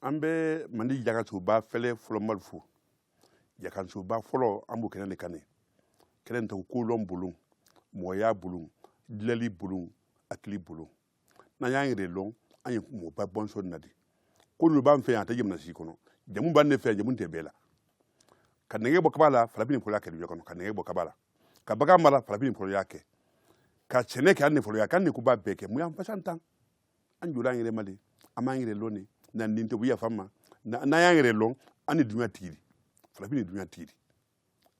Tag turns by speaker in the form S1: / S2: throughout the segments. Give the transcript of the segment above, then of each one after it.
S1: an bɛ mandi jakansoba fɛlɛ fɔlɔ mali fo jakansoba fɔlɔ an b'o kɛnɛ de kan ne kɛnɛ nin tɔgɔ kolɔn bolon mɔgɔya bolon dilali bolon hakili bolon n'an y'an yɛrɛ lɔn an ye mɔgɔba bɔnsɔn na de ko ninnu b'an fɛ yan a tɛ jamana si kɔnɔ jamu b'an de fɛ jamu tɛ bɛɛ la ka nɛgɛ bɔ kaba la farafin ne fɔlɔ y'a kɛ dugu kɔnɔ ka nɛgɛ bɔ kaba la ka bagan mara farafin ne fɔlɔ y'a kɛ ka sɛnɛ kɛ an ne fɔlɔ y'a kɛ an ne ko b'a bɛɛ kɛ mun y'an fasa tan an jɔra an yɛrɛ ma de an m'an yɛrɛ lɔn de na nin tɛ u yafa ma n'an y'an yɛrɛ lɔn an ne dunya tigi de farafin ne dunya tigi de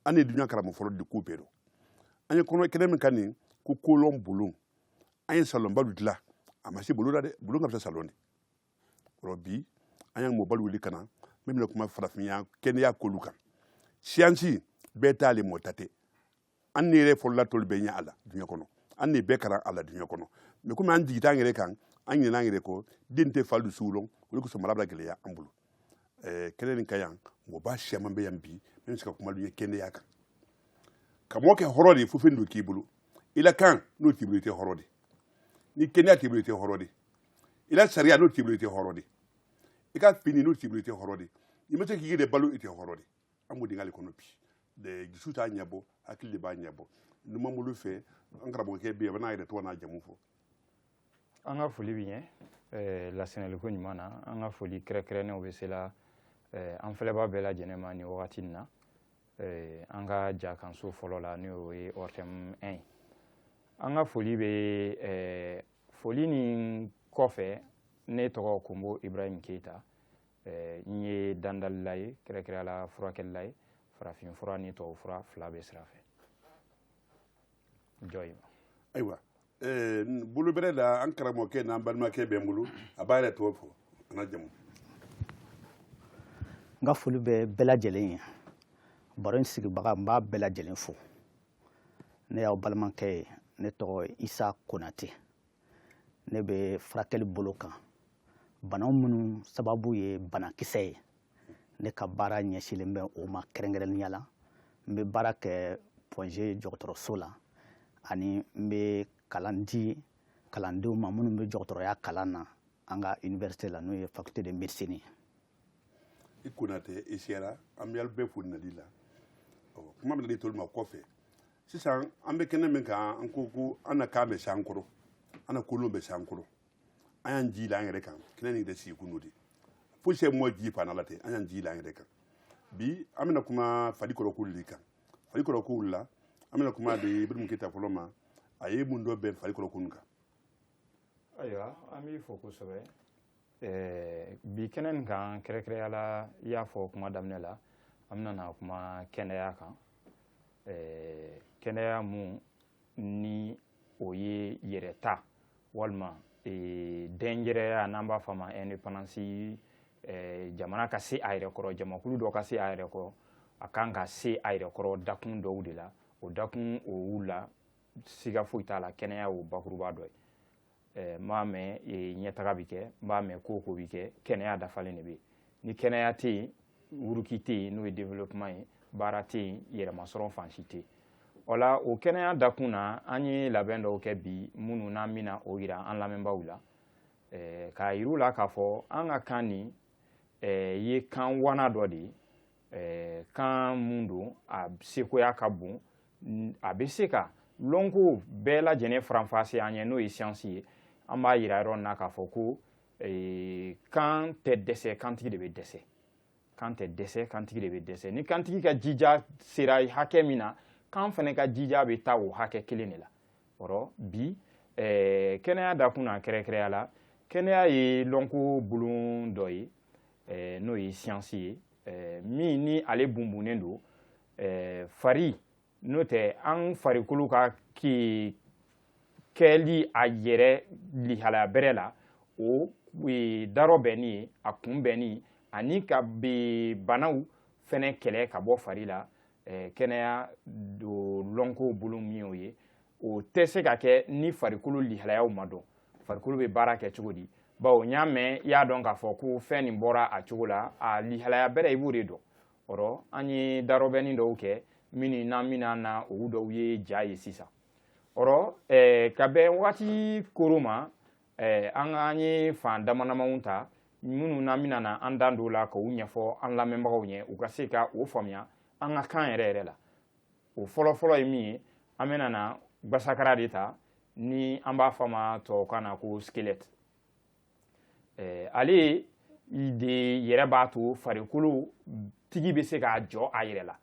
S1: an ne dunya karamɔgɔ fɔlɔ de ko bɛɛ dɔn an ye kɔnɔ kɛnɛ min kan nin ko kolɔn bolon an ye salɔnbalu dilan a ma se bolon la dɛ bolon ka fisa salɔn de o rɔ bi an y'an mɔbalu wuli ka na min bɛna kuma farafinya kɛnɛya kolu kan siyansi bɛɛ ta le mɔ ta tɛ an ne yɛrɛ fɔlɔla tɔlu bɛɛ ɲɛ a la dunya kɔnɔ an ne bɛɛ karan a la dunya kɔnɔ mɛ komi an jigi t'an yɛrɛ kan an ɲinɛna an yɛrɛ kɔ den tɛ falu sugu lɔn o de kosɔn mara bɛ gɛlɛya an bolo kɛnɛ nin kan yan mɔgɔba siyaman bɛ yan bi min bɛ se ka kuma ye kɛnɛya kan ka mɔgɔ kɛ hɔrɔn de ye fo fɛn dɔ k'i bolo i la kan n'o t'i bolo i tɛ hɔrɔn de ni kɛnɛya t'i bolo i tɛ hɔrɔn de i la sariya n'o t'i bolo i tɛ hɔrɔn de i ka fini n'o t'i bolo i tɛ hɔrɔn de i ma se k'i yɛrɛ balo i tɛ hɔrɔn de an b'o dingɛ de kɔnɔ bi de dusu t'a ɲɛbɔ hakili de b'a ɲɛbɔ numanbolo fɛ an karamɔgɔkɛ bɛ yen a bɛ n'a yɛrɛ tɔgɔ n'a jamu fɔ an
S2: ka foli b'i ɲɛ lasɛnɛliko ɲuman na an ka foli kɛrɛnkɛrɛnnenw bɛ se la an filɛbaa bɛɛ lajɛlen ma nin wagati in na an ka jakanso fɔlɔ la n'o ye ORTM 1 ye an ka foli bɛ foli nin kɔfɛ ne tɔgɔ konbo ibrahim keyita Eh, n ye dandalila ye kɛrɛnkɛrɛnna furakɛlila ye farafin fura ni tubabu fura fila bɛɛ sira fɛ jɔ ye ayiwa
S1: eh, bolo bɛrɛ la an karamɔgɔkɛ n'an balimakɛ bɛ n bolo a b'a yɛrɛ tɔgɔ fɔ a n'a
S3: jamu n ka foli bɛ bɛɛ lajɛlen ye baro in sigibaga n b'a bɛɛ lajɛlen fo ne y'aw balimakɛ ye ne tɔgɔ isa konate ne bɛ furakɛli bolo kan banaw minnu sababu ye banakisɛ ye ne ka baara ɲɛsinlen bɛ o ma kɛrɛnkɛrɛnnenya la n bɛ baara kɛ Point G dɔgɔtɔrɔso la ani n bɛ kalan di kalandenw ma minnu bɛ dɔgɔtɔrɔya kalan na an ka iniwɛrisite la n'o ye faculté de médecine ye
S1: i konate i sera an b'alu bɛɛ fo nali la kuma bɛna di tɔlu ma kɔfɛ sisan an bɛ kɛnɛ min kan an ko ko an na kan bɛ se an kɔrɔ an na kolɔn bɛ se an kɔrɔ an y'an ji la an yɛrɛ kan kɛnɛ nin yɛrɛ sigi kun n'o de foyi sɛ mɔ ji pan la ten an y'an ji la an yɛrɛ kan bi an bɛna kuma farikolo kolu de kan farikolo kolu la an bɛna kuma di ibrahim keyita fɔlɔ ma a ye mun dɔbɛn farikolo kolu kan
S2: ayiwa an b'i fo kosɛbɛ eh, bi kɛnɛ nin kan kɛrɛkɛrɛya la i y'a fɔ kuma daminɛ la an bɛna na kuma kɛnɛya kan eh, kɛnɛya mun ni o ye yɛrɛta walima eh, dɛnjɛrɛya n'an b'a fɔ a ma indépendance jamana ka se a yɛrɛ kɔrɔ jamakulu dɔ ka se a yɛrɛ kɔrɔ a kan ka se a yɛrɛ kɔrɔ dakun dɔw de la o dakun o la siga foyi t'a la kɛnɛya y'o bakuruba dɔ ye eh, n'i b'a mɛn eh, ɲɛtaga bɛ kɛ n'i b'a mɛn ko ko bɛ kɛ kɛnɛya dafalen de bɛ yen ni kɛnɛya tɛ yen wuruki tɛ yen n'o ye développement ye baara tɛ yen yɛrɛmasɔrɔ fan si tɛ yen o la o kɛnɛya dakun na an ye labɛn dɔw kɛ bi minnu n'an bɛna o yira an lamɛnbaaw la eh, k'a yir'u la k'a fɔ an ka kan nin ye kan wana dɔ de ye Ɛɛ kan mun don a sekoya ka bon a bɛ se ka lɔnko bɛɛ lajɛlen faranfasi an ye n'o ye siyansi ye an b'a yira yɔrɔ na k'a fɔ ko kan tɛ dɛsɛ kantigi de bɛ dɛsɛ kan tɛ dɛsɛ kantigi de bɛ dɛsɛ ni kantigi ka jija sera hakɛ min na kan fɛnɛ ka jija bɛ taa o hakɛ kelen de la ɔrɔ bi kɛnɛya dakun na kɛrɛkɛrɛya la kɛnɛya ye lɔnko bolon dɔ ye eh, n'o ye siyansi ye eh, min ni ale bunbunnen don eh, fari n'o tɛ an farikolo ka ke kɛli a yɛrɛ lihalaya bɛrɛ la o e, darɔbɛnni ye a kunbɛnni ani ka be banaw fɛnɛ kɛlɛ ka bɔ fari la eh, kɛnɛya do lɔnko bolon min y'o ye o tɛ se ka kɛ ni farikolo lihalayaw ma dɔn farikolo bɛ baara kɛ cogo di bawo n'i y'a mɛn i y'a dɔn k'a fɔ ko fɛn nin bɔra a cogo la a lihalaya bɛrɛ i b'o de dɔn ɔrɔ an ye darɔbɛnni dɔw kɛ minnu n'an bɛna na olu dɔw ye ja ye sisan ɔrɔ eh, ka bɛn waati koro ma eh, an an ye fan damadamaw ta minnu n'an bɛna na an da don la k'u ɲɛfɔ an lamɛnbagaw ye u ka se ka o faamuya an ka kan yɛrɛ yɛrɛ la o fɔlɔfɔlɔ ye min ye an bɛna na gbasakara de ta ni an b'a fɔ a ma tubabukan na ko squelette eh, ale de yɛrɛ b'a to farikolo tigi bɛ se k'a jɔ a yɛrɛ la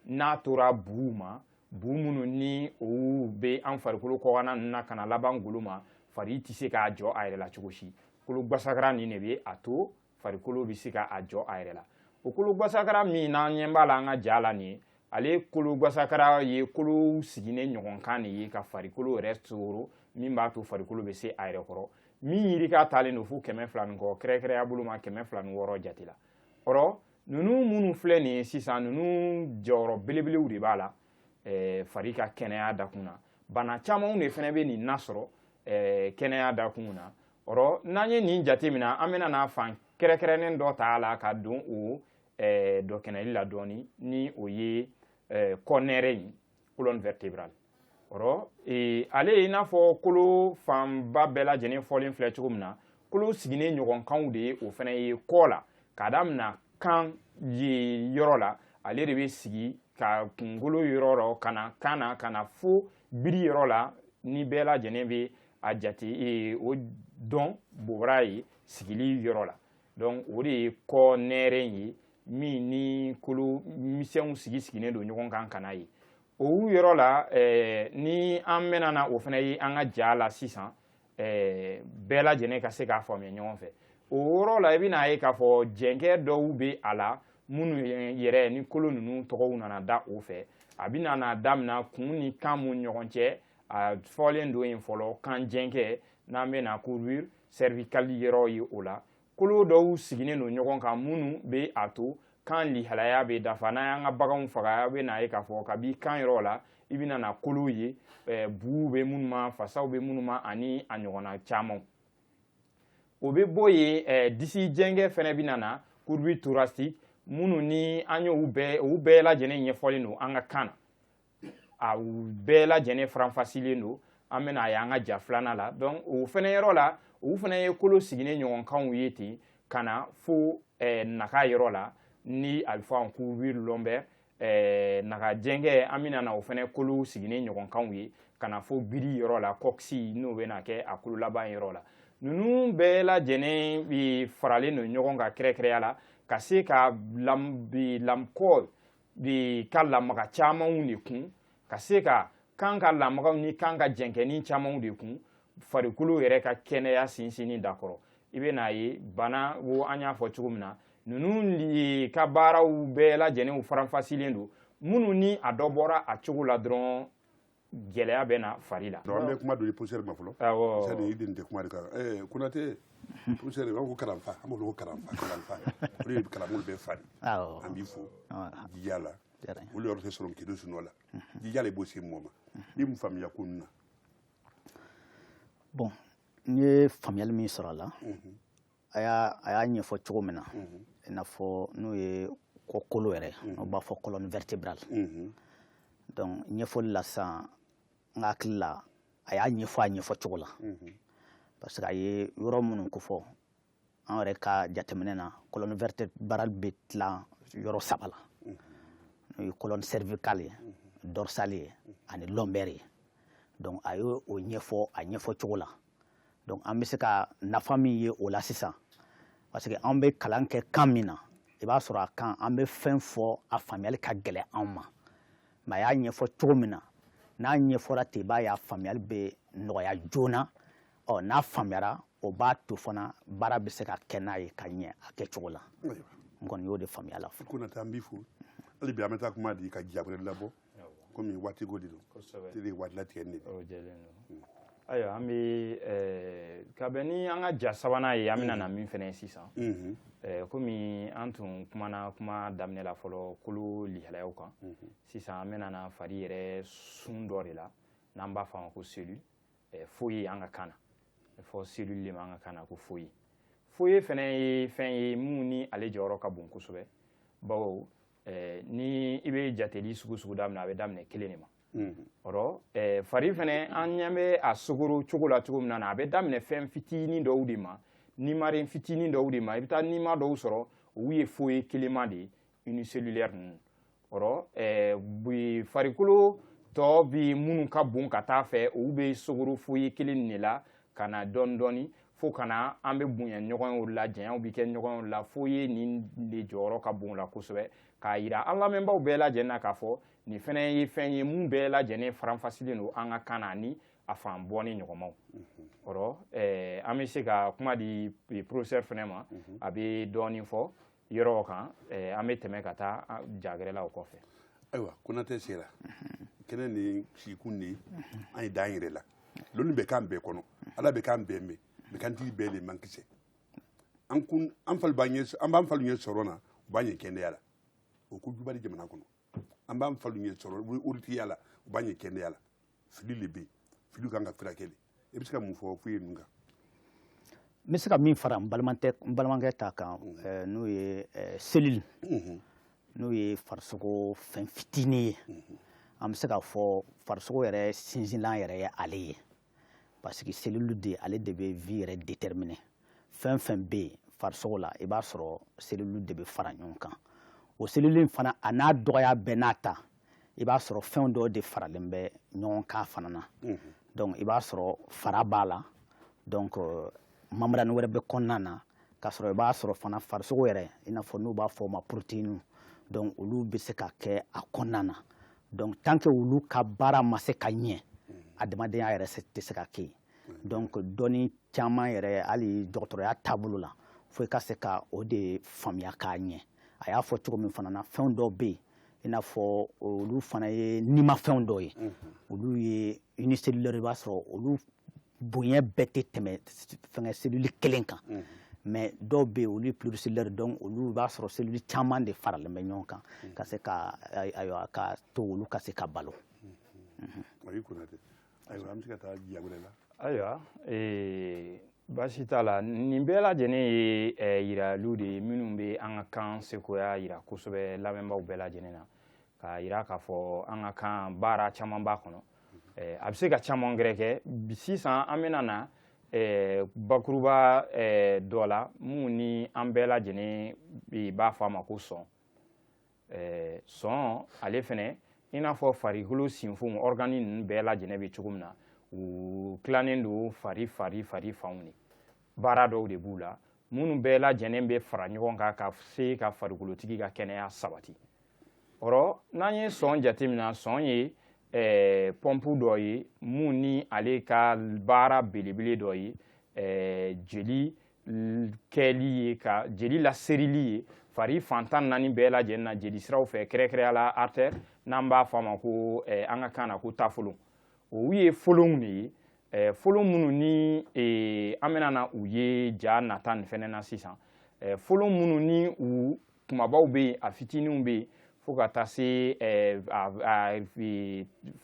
S2: n'a tora buw ma bu minnu ni olu bɛ an farikolo kɔkanna ninnu na ka na laban golo ma fari tɛ se k'a jɔ a yɛrɛ la cogo si kolo gbasakara nin de bɛ a to farikolo bɛ se k'a jɔ a yɛrɛ la o kolo gwasakara min n'an ɲɛ b'a la an ka ja la nin ye ale kolo gwasakara ye kolo sigilen ɲɔgɔnkan de ye ka farikolo yɛrɛ sogoro min b'a to farikolo bɛ se a yɛrɛ kɔrɔ min yirika taalen don fo kɛmɛ fila ni kɔ kɛrɛkɛrɛya bolo ma kɛmɛ fila ni wɔɔrɔ jate la ɔrɔ ninnu minnu filɛ nin ye sisan ninnu jɔyɔrɔ belebelew de b'a la eh, fari ka kɛnɛya dakun na bana camanw de fana bɛ nin nasɔrɔ eh, kɛnɛya dakun na ɔrɔ n'an ye nin jate min na an bɛna n'a fan kɛrɛkɛrɛnnen dɔ ta a la ka don o eh, dɔ kɛnɛli la dɔɔni ni o ye eh, kɔnɛrɛ in colonne vertébrale ɔrɔ eh, ale ye i n'a fɔ kolo fanba bɛɛ lajɛlen fɔlen filɛ cogo min na kolo sigilen ɲɔgɔnkanw de ye o fana ye kɔ la k'a damina kan yɔrɔ la ale de bɛ sigi ka kunkolo yɔrɔ rɔ ka na kan na ka na fo biri yɔrɔ la ni bɛɛ lajɛlen bɛ a jate e, o dɔn bobara ye sigili yɔrɔ la donc o de ye kɔnɛrɛ in ye min ni kolo misɛnw sigi sigilen don ɲɔgɔn kan ka n'a ye o yɔrɔ la eh, ni an mɛna na o fana ye an ka ja la sisan eh, bɛɛ lajɛlen ka se k'a faamuya ɲɔgɔn fɛ o yɔrɔ la i bɛna a ye k'a fɔ jɛnkɛ dɔw bɛ a la minnu yɛrɛ ni kolo ninnu tɔgɔw nana da o fɛ a bɛna na damina kun ni kan mun ɲɔgɔn cɛ a fɔlen don yen fɔlɔ kan jɛnkɛ n'an bɛna courbure cervicale yɔrɔ ye o la kolo dɔw sigilen don ɲɔgɔn kan minnu bɛ a to kan lihalaya bɛ dafa n'an y'an ka baganw faga a bɛ n'a ye k'a fɔ kabi kan yɔrɔ la i bɛna na kolow ye eh, buw bɛ minnu ma fasaw bɛ minnu ma ani a ɲɔgɔnna camanw o bɛ bɔ yen eh, disi jɛnkɛ fana bɛna na courbure thoracique minnu ni an y'u bɛɛ u bɛɛ lajɛlen ɲɛfɔlen don an ka kan na a bɛɛ lajɛlen faranfasilen don an bɛna a y'an ka ja filanan la donc o fana yɔrɔ la u fana ye kolo sigilen ɲɔgɔnkanw ye ten ka na fo eh, naga yɔrɔ la ni a bɛ fɔ a ma courbure lombaire eh, naga jɛnkɛ an bɛna na o fana kolo sigilen ɲɔgɔnkanw ye ka na fo biri yɔrɔ la coccyx n'o bɛna kɛ a kolo laban yɔrɔ la ninnu bɛɛ lajɛlen eh, faralen don ɲɔgɔn kan kɛrɛkɛrɛya la ka se ka lam, eh, lam kɔ de ka lamaga camanw de kun ka se ka kan ka lamagaw ni kan ka jɛnkɛni camanw de kun farikolo yɛrɛ ka kɛnɛya sinsinni dakɔrɔ i bɛ n'a ye bana wo an y'a fɔ cogo min na ninnu ka baaraw bɛɛ lajɛlenw faranfasilen don minnu ni a dɔ bɔra a cogo la dɔrɔn gɛlɛya bɛ na fari la an bɛ kuma don poussière
S1: ma fɔlɔ c'est-à-dire i den tɛ kuma de kan eh Konate poussière u b'a ko kalanfa an b'olu ko kalanfa kalanfa o de ye kalanbolo bɛɛ fari an b'i fo jija la olu yɔrɔ tɛ sɔrɔ k'i don sunɔgɔ la jija la i b'o se mɔgɔ ma i mun faamuya ko nin na
S3: bon n ye faamuyali min sɔrɔ a la a y'a ɲɛfɔ cogo min na i n'a fɔ n'o ye kɔkolo yɛrɛ n'o b'a fɔ colonne vertébrale donc ɲɛfɔli la sisan n ka hakili la a y'a ɲɛfɔ a ɲɛfɔ cogo la parce que a ye yɔrɔ minnu kofɔ an yɛrɛ ka jateminɛ na colonne vertébrale bɛ tilan yɔrɔ saba la n'o ye colonne cervicale ye dorsale ye ani lombaire ye donc a ye o ɲɛfɔ a ɲɛfɔ cogo la donc an bɛ se ka nafa min ye o la sisan parce que an bɛ kalan kɛ kan min na i b'a sɔrɔ a kan an bɛ fɛn fɔ a faamuyali ka gɛlɛn anw ma mais a y'a ɲɛfɔ cogo min na n'a ɲɛfɔra ten i b'a ye a faamuyali bɛ nɔgɔya joona ɔ n'a faamuyara o b'a to fana baara bɛ se ka kɛ n'a ye ka ɲɛ a kɛcogo la n kɔni y'o de faamuya la fo. Konate an b'i fo
S1: hali bi an bɛ taa kuma di ka ja wɛrɛ labɔ kɔmi waatiko de don tele waati latigɛ de
S2: hmm. ayiwa an bɛ eh, ka bɛn ni an ka ja sabanan ye an bɛna na min fɛnɛ ye sisan hmm. eh, komi an tun kumana kuma daminɛ la fɔlɔ kolo lihalayaw kan hmm. sisan an bɛna na fari yɛrɛ sun dɔ de la n'an b'a fɔ a ma ko cellule eh, foyi an ka kan na fɔ cellule de ma an ka kan na ko foyi foyi fɛnɛ ye fɛn ye mun ni ale jɔyɔrɔ ka bon kosɛbɛ bawo eh, ni i bɛ jateli sugu sugu daminɛ a bɛ daminɛ kelen de ma ɔrɔ eh, fari fɛnɛ an ɲɛ bɛ a sogoro cogo la cogo min na a bɛ daminɛ fɛn fitinin dɔw de ma nimaren fitinin dɔw de ma i bɛ taa nima dɔw sɔrɔ olu ye foyi kelenma de ye unicellulaire ninnu ɔrɔ eh, bi farikolo tɔ bɛɛ minnu ka bon ka taa fɛ olu bɛ sogoro foyi kelen de la ka na dɔɔni dɔɔni fo ka na an bɛ bonya ɲɔgɔnw la janyaw bɛ kɛ ɲɔgɔnw la foyi nin de jɔyɔrɔ ka bon la kosɛbɛ k'a yira an lamɛnbaaw bɛɛ lajɛlen na k'a fɔ nin fɛnɛ ye fɛn ye mun bɛɛ lajɛlen faranfasilen don an ka kan na ni a fan bɔ ni ɲɔgɔnmaw ɔrɔ an bɛ se ka kuma di professeur fɛnɛ ma a bɛ dɔɔni fɔ yɔrɔ kan eh, an bɛ tɛmɛ ka taa ja gɛrɛ la o kɔfɛ ayiwa
S1: konatɛ sera kɛnɛ ni sikun ni an ye dan yɛrɛ la lɔnni bɛ kan bɛɛ kɔnɔ ala bɛ kan bɛɛ mɛn mais kantigi bɛɛ le man kisɛ an kun an falu b'an ɲɛ an b'an falu ɲɛ sɔrɔ na u b'an ɲɛ kɛnɛya la o ko juguba le jamana kɔnɔ an b'an falu ɲɛ sɔrɔ waritigiya la u b'an ɲɛ kɛnɛya la fili de bɛ yen fili kan ka furakɛ de i bɛ se ka mun fɔ foyi ninnu kan
S3: n bɛ se ka min fara n balimakɛ n balimakɛ ta kan ɛɛ, n'o ye ɛɛ, cellule n'o ye farisogo fɛn fitinin ye an bɛ se k'a fɔ farisogo yɛrɛ sinsinlan yɛrɛ ye ale ye parce que cellule de ale de bɛ vie yɛrɛ déterminer fɛn fɛn bɛ yen farisogo la i b'a sɔrɔ cellule de bɛ fara ɲɔgɔn kan o cellule in fana a n'a dɔgɔya bɛɛ n'a ta i b'a sɔrɔ fɛn dɔw de faralen bɛ ɲɔgɔn kan fana na donc i b'a sɔrɔ fara b'a la donc membrane wɛrɛ bɛ kɔnɔna na k'a sɔrɔ i b'a sɔrɔ fana farisogo yɛrɛ i n'a fɔ n'u b'a fɔ o ma protéine donc olu bɛ se ka kɛ a kɔnɔna na donc tant que olu ka baara ma se ka ɲɛ adamadenya yɛrɛ tɛ se ka kɛ donc dɔnni caman yɛrɛ hali dɔgɔtɔrɔya taabolo la fo i ka se ka o de faamuya k'a ɲɛ a y'a fɔ cogo min fana na fɛn dɔw bɛ yen i n'a fɔ olu fana ye nimafɛnw dɔw ye olu ye unicellulaire i b'a sɔrɔ olu bonya bɛɛ tɛ tɛmɛ fɛngɛ cellule kelen kan mais dɔw bɛ yen olu ye pluricellulaire donc olu b'a sɔrɔ cellule caman de faralen bɛ ɲɔgɔn kan ka se ka ayiwa ka to olu ka se ka balo
S1: ayi Konatɛ ayiwa an bɛ se ka taa ja gwɛrɛ la
S2: ayiwa baasi t'a la nin bɛɛ lajɛlen ye yiraliw de ye minnu bɛ an ka kan sekoya yira kosɛbɛ lamɛnbaaw bɛɛ lajɛlen na k'a yira k'a fɔ an ka kan baara caman b'a kɔnɔ eh, a bɛ se ka caman gɛrɛ kɛ sisan an bɛna na eh, bakuruba eh, dɔ la mun ni an bɛɛ lajɛlen b'a fɔ a ma ko sɔn eh, sɔn ale fɛnɛ i n'a fɔ farikolo sinfonw ɔrgani ninnu bɛɛ lajɛlen bɛ cogo min na u tilannen don fari fari fari fanw de baara dɔw de b'u la minnu bɛɛ lajɛlen bɛ fara ɲɔgɔn kan ka se ka farikolotigi ka kɛnɛya sabati ɔrɔ n'an ye sɔn jateminɛ sɔn ye eh, pɔnpu dɔ ye mun ni ale ka baara belebele dɔ ye eh, jeli kɛli ye ka jeli laserili ye fari fan tan naani bɛɛ lajɛlen na jeli siraw fɛ kɛrɛnkɛrɛnya la artère n'an b'a fɔ a ma ko eh, an ka kan na ko taafolon o ye folonw de ye eh, folon minnu ni eh, an bɛna na u ye ja nata nin fɛnɛ na sisan eh, folon minnu ni u kumabaw bɛ yen a fitininw bɛ yen fo ka taa se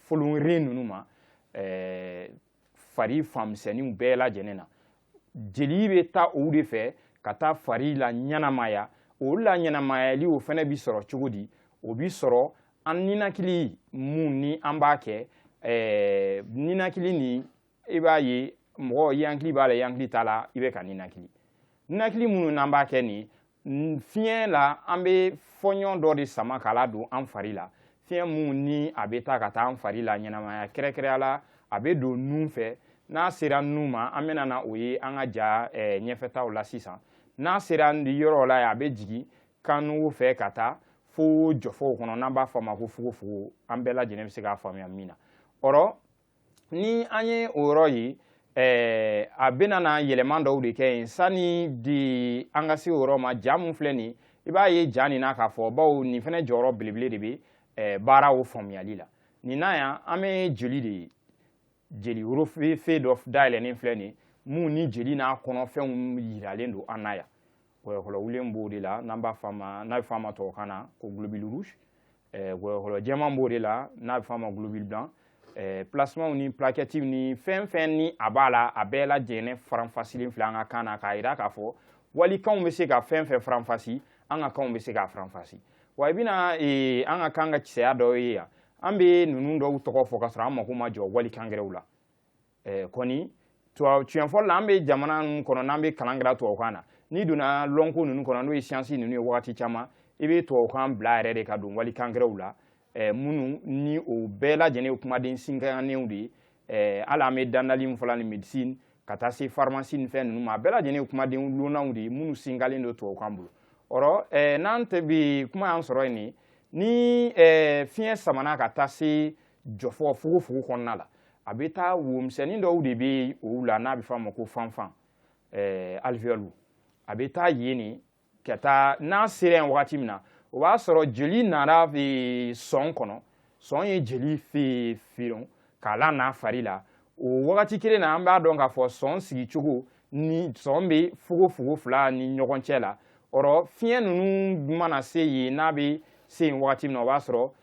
S2: folonren ninnu ma fari fan misɛnninw bɛɛ lajɛlen na jeli bɛ taa o de fɛ ka taa fari laɲɛnamaya o laɲɛnamayali o fɛnɛ bi sɔrɔ cogo di o bi sɔrɔ an ninakili mun ni an b'a kɛ ninakili ni i b'a ye mɔgɔ i hakili b'a la i hakili t'a la i bɛ ka ninakili ninakili minnu n'an b'a kɛ nin fiɲɛ la an bɛ fɔɲɔ dɔ de sama k'a ladon an fari la fiɲɛ mun ni a bɛ taa ka taa an fari laɲɛnamaya kɛrɛnkɛrɛnya la a bɛ don nun fɛ n'a sera nun ma an bɛna na o ye an ka ja eh, ɲɛfɛtaw la sisan n'a sera yɔrɔ la a bɛ jigin kannugu fɛ ka taa fo jɔfɔw kɔnɔ n'an b'a fɔ a ma ko fogofogo an bɛɛ lajɛlen bɛ se k'a faamuya min na ɔrɔ ni an ye o yɔrɔ ye ɛɛ a bɛna na yɛlɛma dɔw de kɛ yen sani de an ka se o yɔrɔ ma ja mun filɛ nin i b'a ye ja nin na k'a fɔ bawo nin fɛnɛ jɔyɔrɔ belebele de bɛ ɛɛ baara o faamuyali la nin na yan an bɛ jeli de ye jeli worofe dɔ dayɛlɛnnen filɛ nin mun ni jeli n'a kɔnɔfɛnw yiralen don an na yan wɔyɔkɔlɔwulen b'o de la n'an b'a f'a ma n'a bɛ f'a ma tubabukan na ko globule rouge wɔyɔkɔlɔ jɛman b'o de la n'a bɛ f'a ma globule blanc plasmaw ni plaquettes ni fɛn fɛn ni a b'a la a bɛɛ lajɛlen faranfasilen filɛ an ka kan na k'a yira k'a fɔ walikanw bɛ se ka fɛn fɛn faranfasi an ka kanw bɛ se k'a faranfasi wa i bɛna eh, an ka kan ka kisɛya dɔw ye yan an bɛ ninnu dɔw tɔgɔ fɔ ka sɔrɔ an mako ma jɔ walikan gɛrɛw la eh, kɔni tiɲɛ fɔli la an bɛ jamana ninnu kɔnɔ n'an bɛ kalan kɛra tubabukan na n'i donna lɔnko ninnu kɔnɔ n'o ye siyansi ninnu ye wagati caman i bɛ tubabukan bila yɛrɛ de ka don walikan gɛrɛw la eh, minnu ni o bɛɛ lajɛlen ye kumaden sinkanenw de ye eh, hali an bɛ dandali min fɔla ni médecine ka taa se pharmacie ni fɛn ninnu ma a bɛɛ lajɛlen ye kumaden lonnanw de ye minnu sinkalen don tubabukan bolo ɔrɔ eh, n'an tɛ bi kuma y'an sɔrɔ yen nin ni eh, fiɲɛ samana ka taa se jɔfɔ fogofogo kɔnɔna la a bɛ taa womisɛnnin dɔw de bɛ o la n'a bɛ f'a ma ko fanfan ɛɛ alvéole a bɛ taa yen de ka taa n'a sera yen wagati min na o b'a sɔrɔ jeli nana sɔn kɔnɔ sɔn ye jeli fe firon k'a lana fari la o wagati kelen na an b'a dɔn k'a fɔ sɔn sigicogo ni sɔn bɛ fogofogo fila ni ɲɔgɔn cɛ la ɔrɔ fiɲɛ ninnu mana se yen n'a bɛ se yen wagati min na o b'a sɔrɔ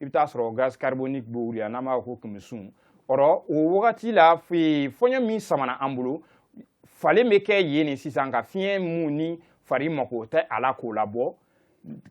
S2: i bɛ taa sɔrɔ gaz carbonique b'o wuli n'an b'a ko kɛmɛsun ɔrɔ o wagati la fɔɲɔ min samana an bolo falen bɛ kɛ yen nin sisan ka fiɲɛ mun ni fari mako tɛ a la k'o labɔ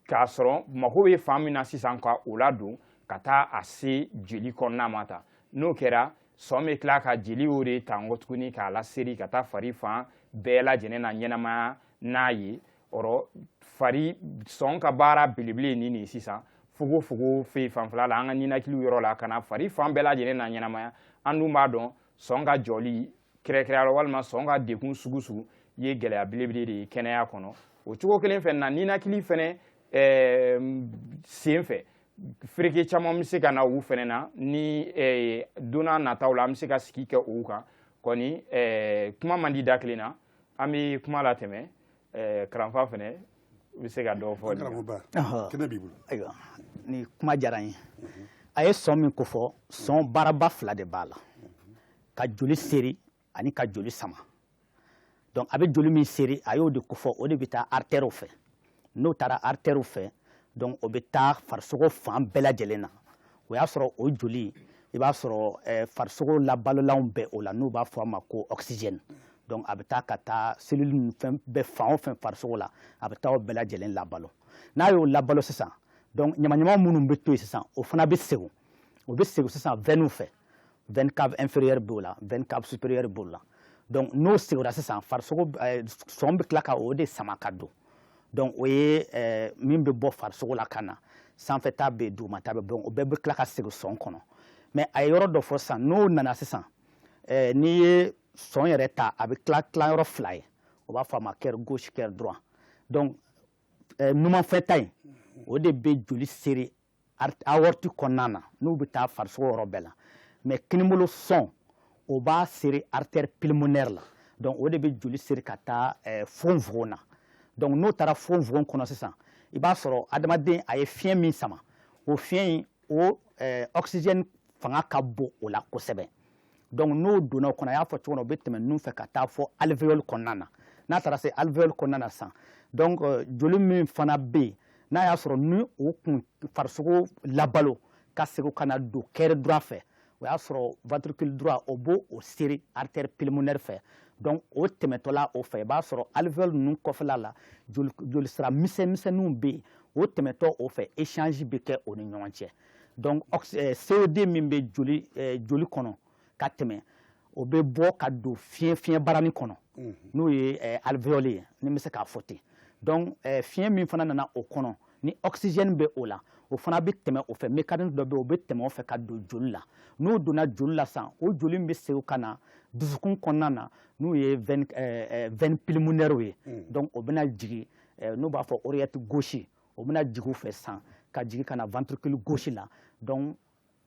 S2: ka sɔrɔ mako bɛ fan min na sisan ka o ladon ka taa a se jeli kɔnɔna ma tan n'o kɛra sɔn bɛ tila ka jeli o de ta nkɔ tuguni k'a laseri ka taa fari fan bɛɛ lajɛlen na ɲɛnamaya n'a ye ɔrɔ fari sɔn ka baara belebele ye nin de ye sisan fogofogo fɛ fanfɛla la an ka ninakiliw yɔrɔ la ka na fari fan bɛɛ lajɛlen na ɲɛnamaya an dun b'a dɔn sɔn ka jɔli kɛrɛnkɛrɛnya la walima sɔn ka degun sugu sugu ye gɛlɛya belebele de ye kɛnɛya kɔnɔ o cogo kelen fɛ na ninakili fɛnɛ eh, sen fɛ fereke caman bɛ se ka na u fɛnɛ na ni eh, don na nataw la an bɛ se ka sigi kɛ u kan kɔni eh, kuma man di da kelen na an bɛ kuma latɛmɛ karanfa fɛnɛ bɛ se ka dɔ fɔ b'i bolo
S1: ayiwa ni
S3: kuma diyara n ye a ye sɔn min kofɔ sɔn baaraba fila de b'a la ka joli seri ani ka joli sama donc a bɛ joli min seri a y'o de kofɔ o de bɛ taa artèrew fɛ n'o taara artère fɛ donc o bɛ taa farisogo fan bɛɛ lajɛlen na o y'a sɔrɔ o joli i b'a sɔrɔ eh, farisogo labalolanw bɛ o la n'u b'a fɔ a ma ko oxygène donc a bɛ taa ka taa cellule ninnu fɛn bɛɛ fan o fɛn farisogo la a bɛ taa o bɛɛ lajɛlen labalo n'a y'o labalo sisan donc ɲamaɲama minnu bɛ to yen sisan o fana bɛ segin o bɛ segin sisan veine fɛ veine cave inférieure b'o la veine cave supérieure b'o la donc n'o seginna sisan farisogo eh, sɔn bɛ tila ka o de sama ka don donc o ye eh, min bɛ bɔ farisogo la ka na sanfɛ ta bɛ yen duguma ta bɛ yen donc o bɛɛ bɛ tila ka segin sɔn kɔnɔ mais a ye yɔrɔ dɔ fɔ sisan n'o nana sisan eh, n'i ye sɔn yɛrɛ ta a bɛ tila tila yɔrɔ fila ye o b'a fɔ a ma cœur gauche cœur droit donc numanfɛta in o de bɛ joli seri aorte kɔnɔna na n'u bɛ taa farisogo yɔrɔ bɛɛ la mais kinibolo sɔn o b'a seri artère pulmonaire la donc o de bɛ joli seri ka taa eh, fonfogon na donc n'o taara fonfogon kɔnɔ sisan i b'a sɔrɔ adamaden a ye fiɲɛ min sama o fiɲɛ in o eh, oxygène fanga ka bon o la kosɛbɛ donc n'o donna o kɔnɔ a y'a fɔ cogo min na o bɛ tɛmɛ nun fɛ ka taa fɔ alvéole kɔnɔna na n'a taara se alvéole kɔnɔna na sisan donc euh, joli min fana bɛ yen n'a y'a sɔrɔ ni o kun farisogo labalo ka segin ka na don cœur droit fɛ o y'a sɔrɔ ventricule droit o b'o o seri artère pulmonaire fɛ donc o tɛmɛtɔla o fɛ i b'a sɔrɔ alvéole ninnu kɔfɛla la jolisira misɛnmisɛnninw bɛ yen o tɛmɛtɔ o fɛ échange bɛ kɛ o ni ɲɔgɔn cɛ donc eh, CO2 min bɛ joli eh, joli kɔnɔ ka tɛmɛ o bɛ bɔ ka don fiɲɛ fiɲɛ barani kɔnɔ mhm. n'o ye eh, alvéole ye ni n bɛ se k'a fɔ ten donc fiɲɛ min fana nana o kɔnɔ ni oxygène bɛ o la o fana bɛ tɛmɛ o fɛ mécanisme dɔ bɛ yen o bɛ tɛmɛ o fɛ ka don joli la n'o donna joli la sisan o joli min bɛ segin ka na dusukun kɔnɔna na n'o ye veine pulmonaire ye mhm. donc o bɛna jigin n'o b'a fɔ oreillette gauche o bɛna jigin o fɛ sisan ka jigin ka na ventricule gauche la donc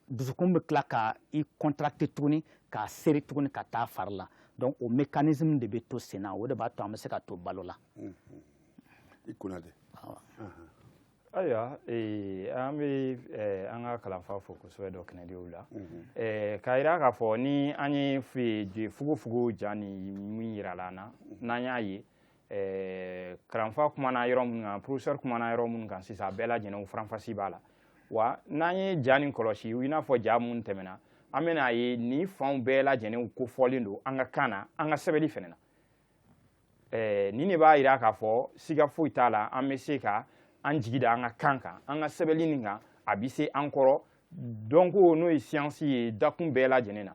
S3: dusukun bɛ tila ka i contracter tuguni k'a seri tuguni ka taa fari la donc o mécanisme de bɛ to sen na o de b'a to an bɛ se ka to balo la.
S1: i kunna
S2: de. ayiwa ee, an bɛ ee, eh, an ka kalanfa fo kosɛbɛ dɔ kɛnɛdiw la ee, mhm. eh, k'a jira k'a fɔ ni an ye fogofogo ja nin min yirala an na mhm. n'an y'a ye kalanfa kumana yɔrɔ minnu kan professeur kumana yɔrɔ minnu kan sisan a bɛɛ lajɛlen faranfasi b'a la wa n'an ye ja nin kɔlɔsi i n'a fɔ ja mun tɛmɛna an bɛna a ye nin fanw bɛɛ lajɛlen kofɔlen don an ka kan na an ka sɛbɛnni fɛnɛ na nin de b'a yira k'a fɔ siga foyi t'a la an bɛ se ka an jigi da an ka kan kan an ka sɛbɛnni nin kan a bɛ se an kɔrɔ dɔnko n'o ye siyansi ye dakun bɛɛ lajɛlen na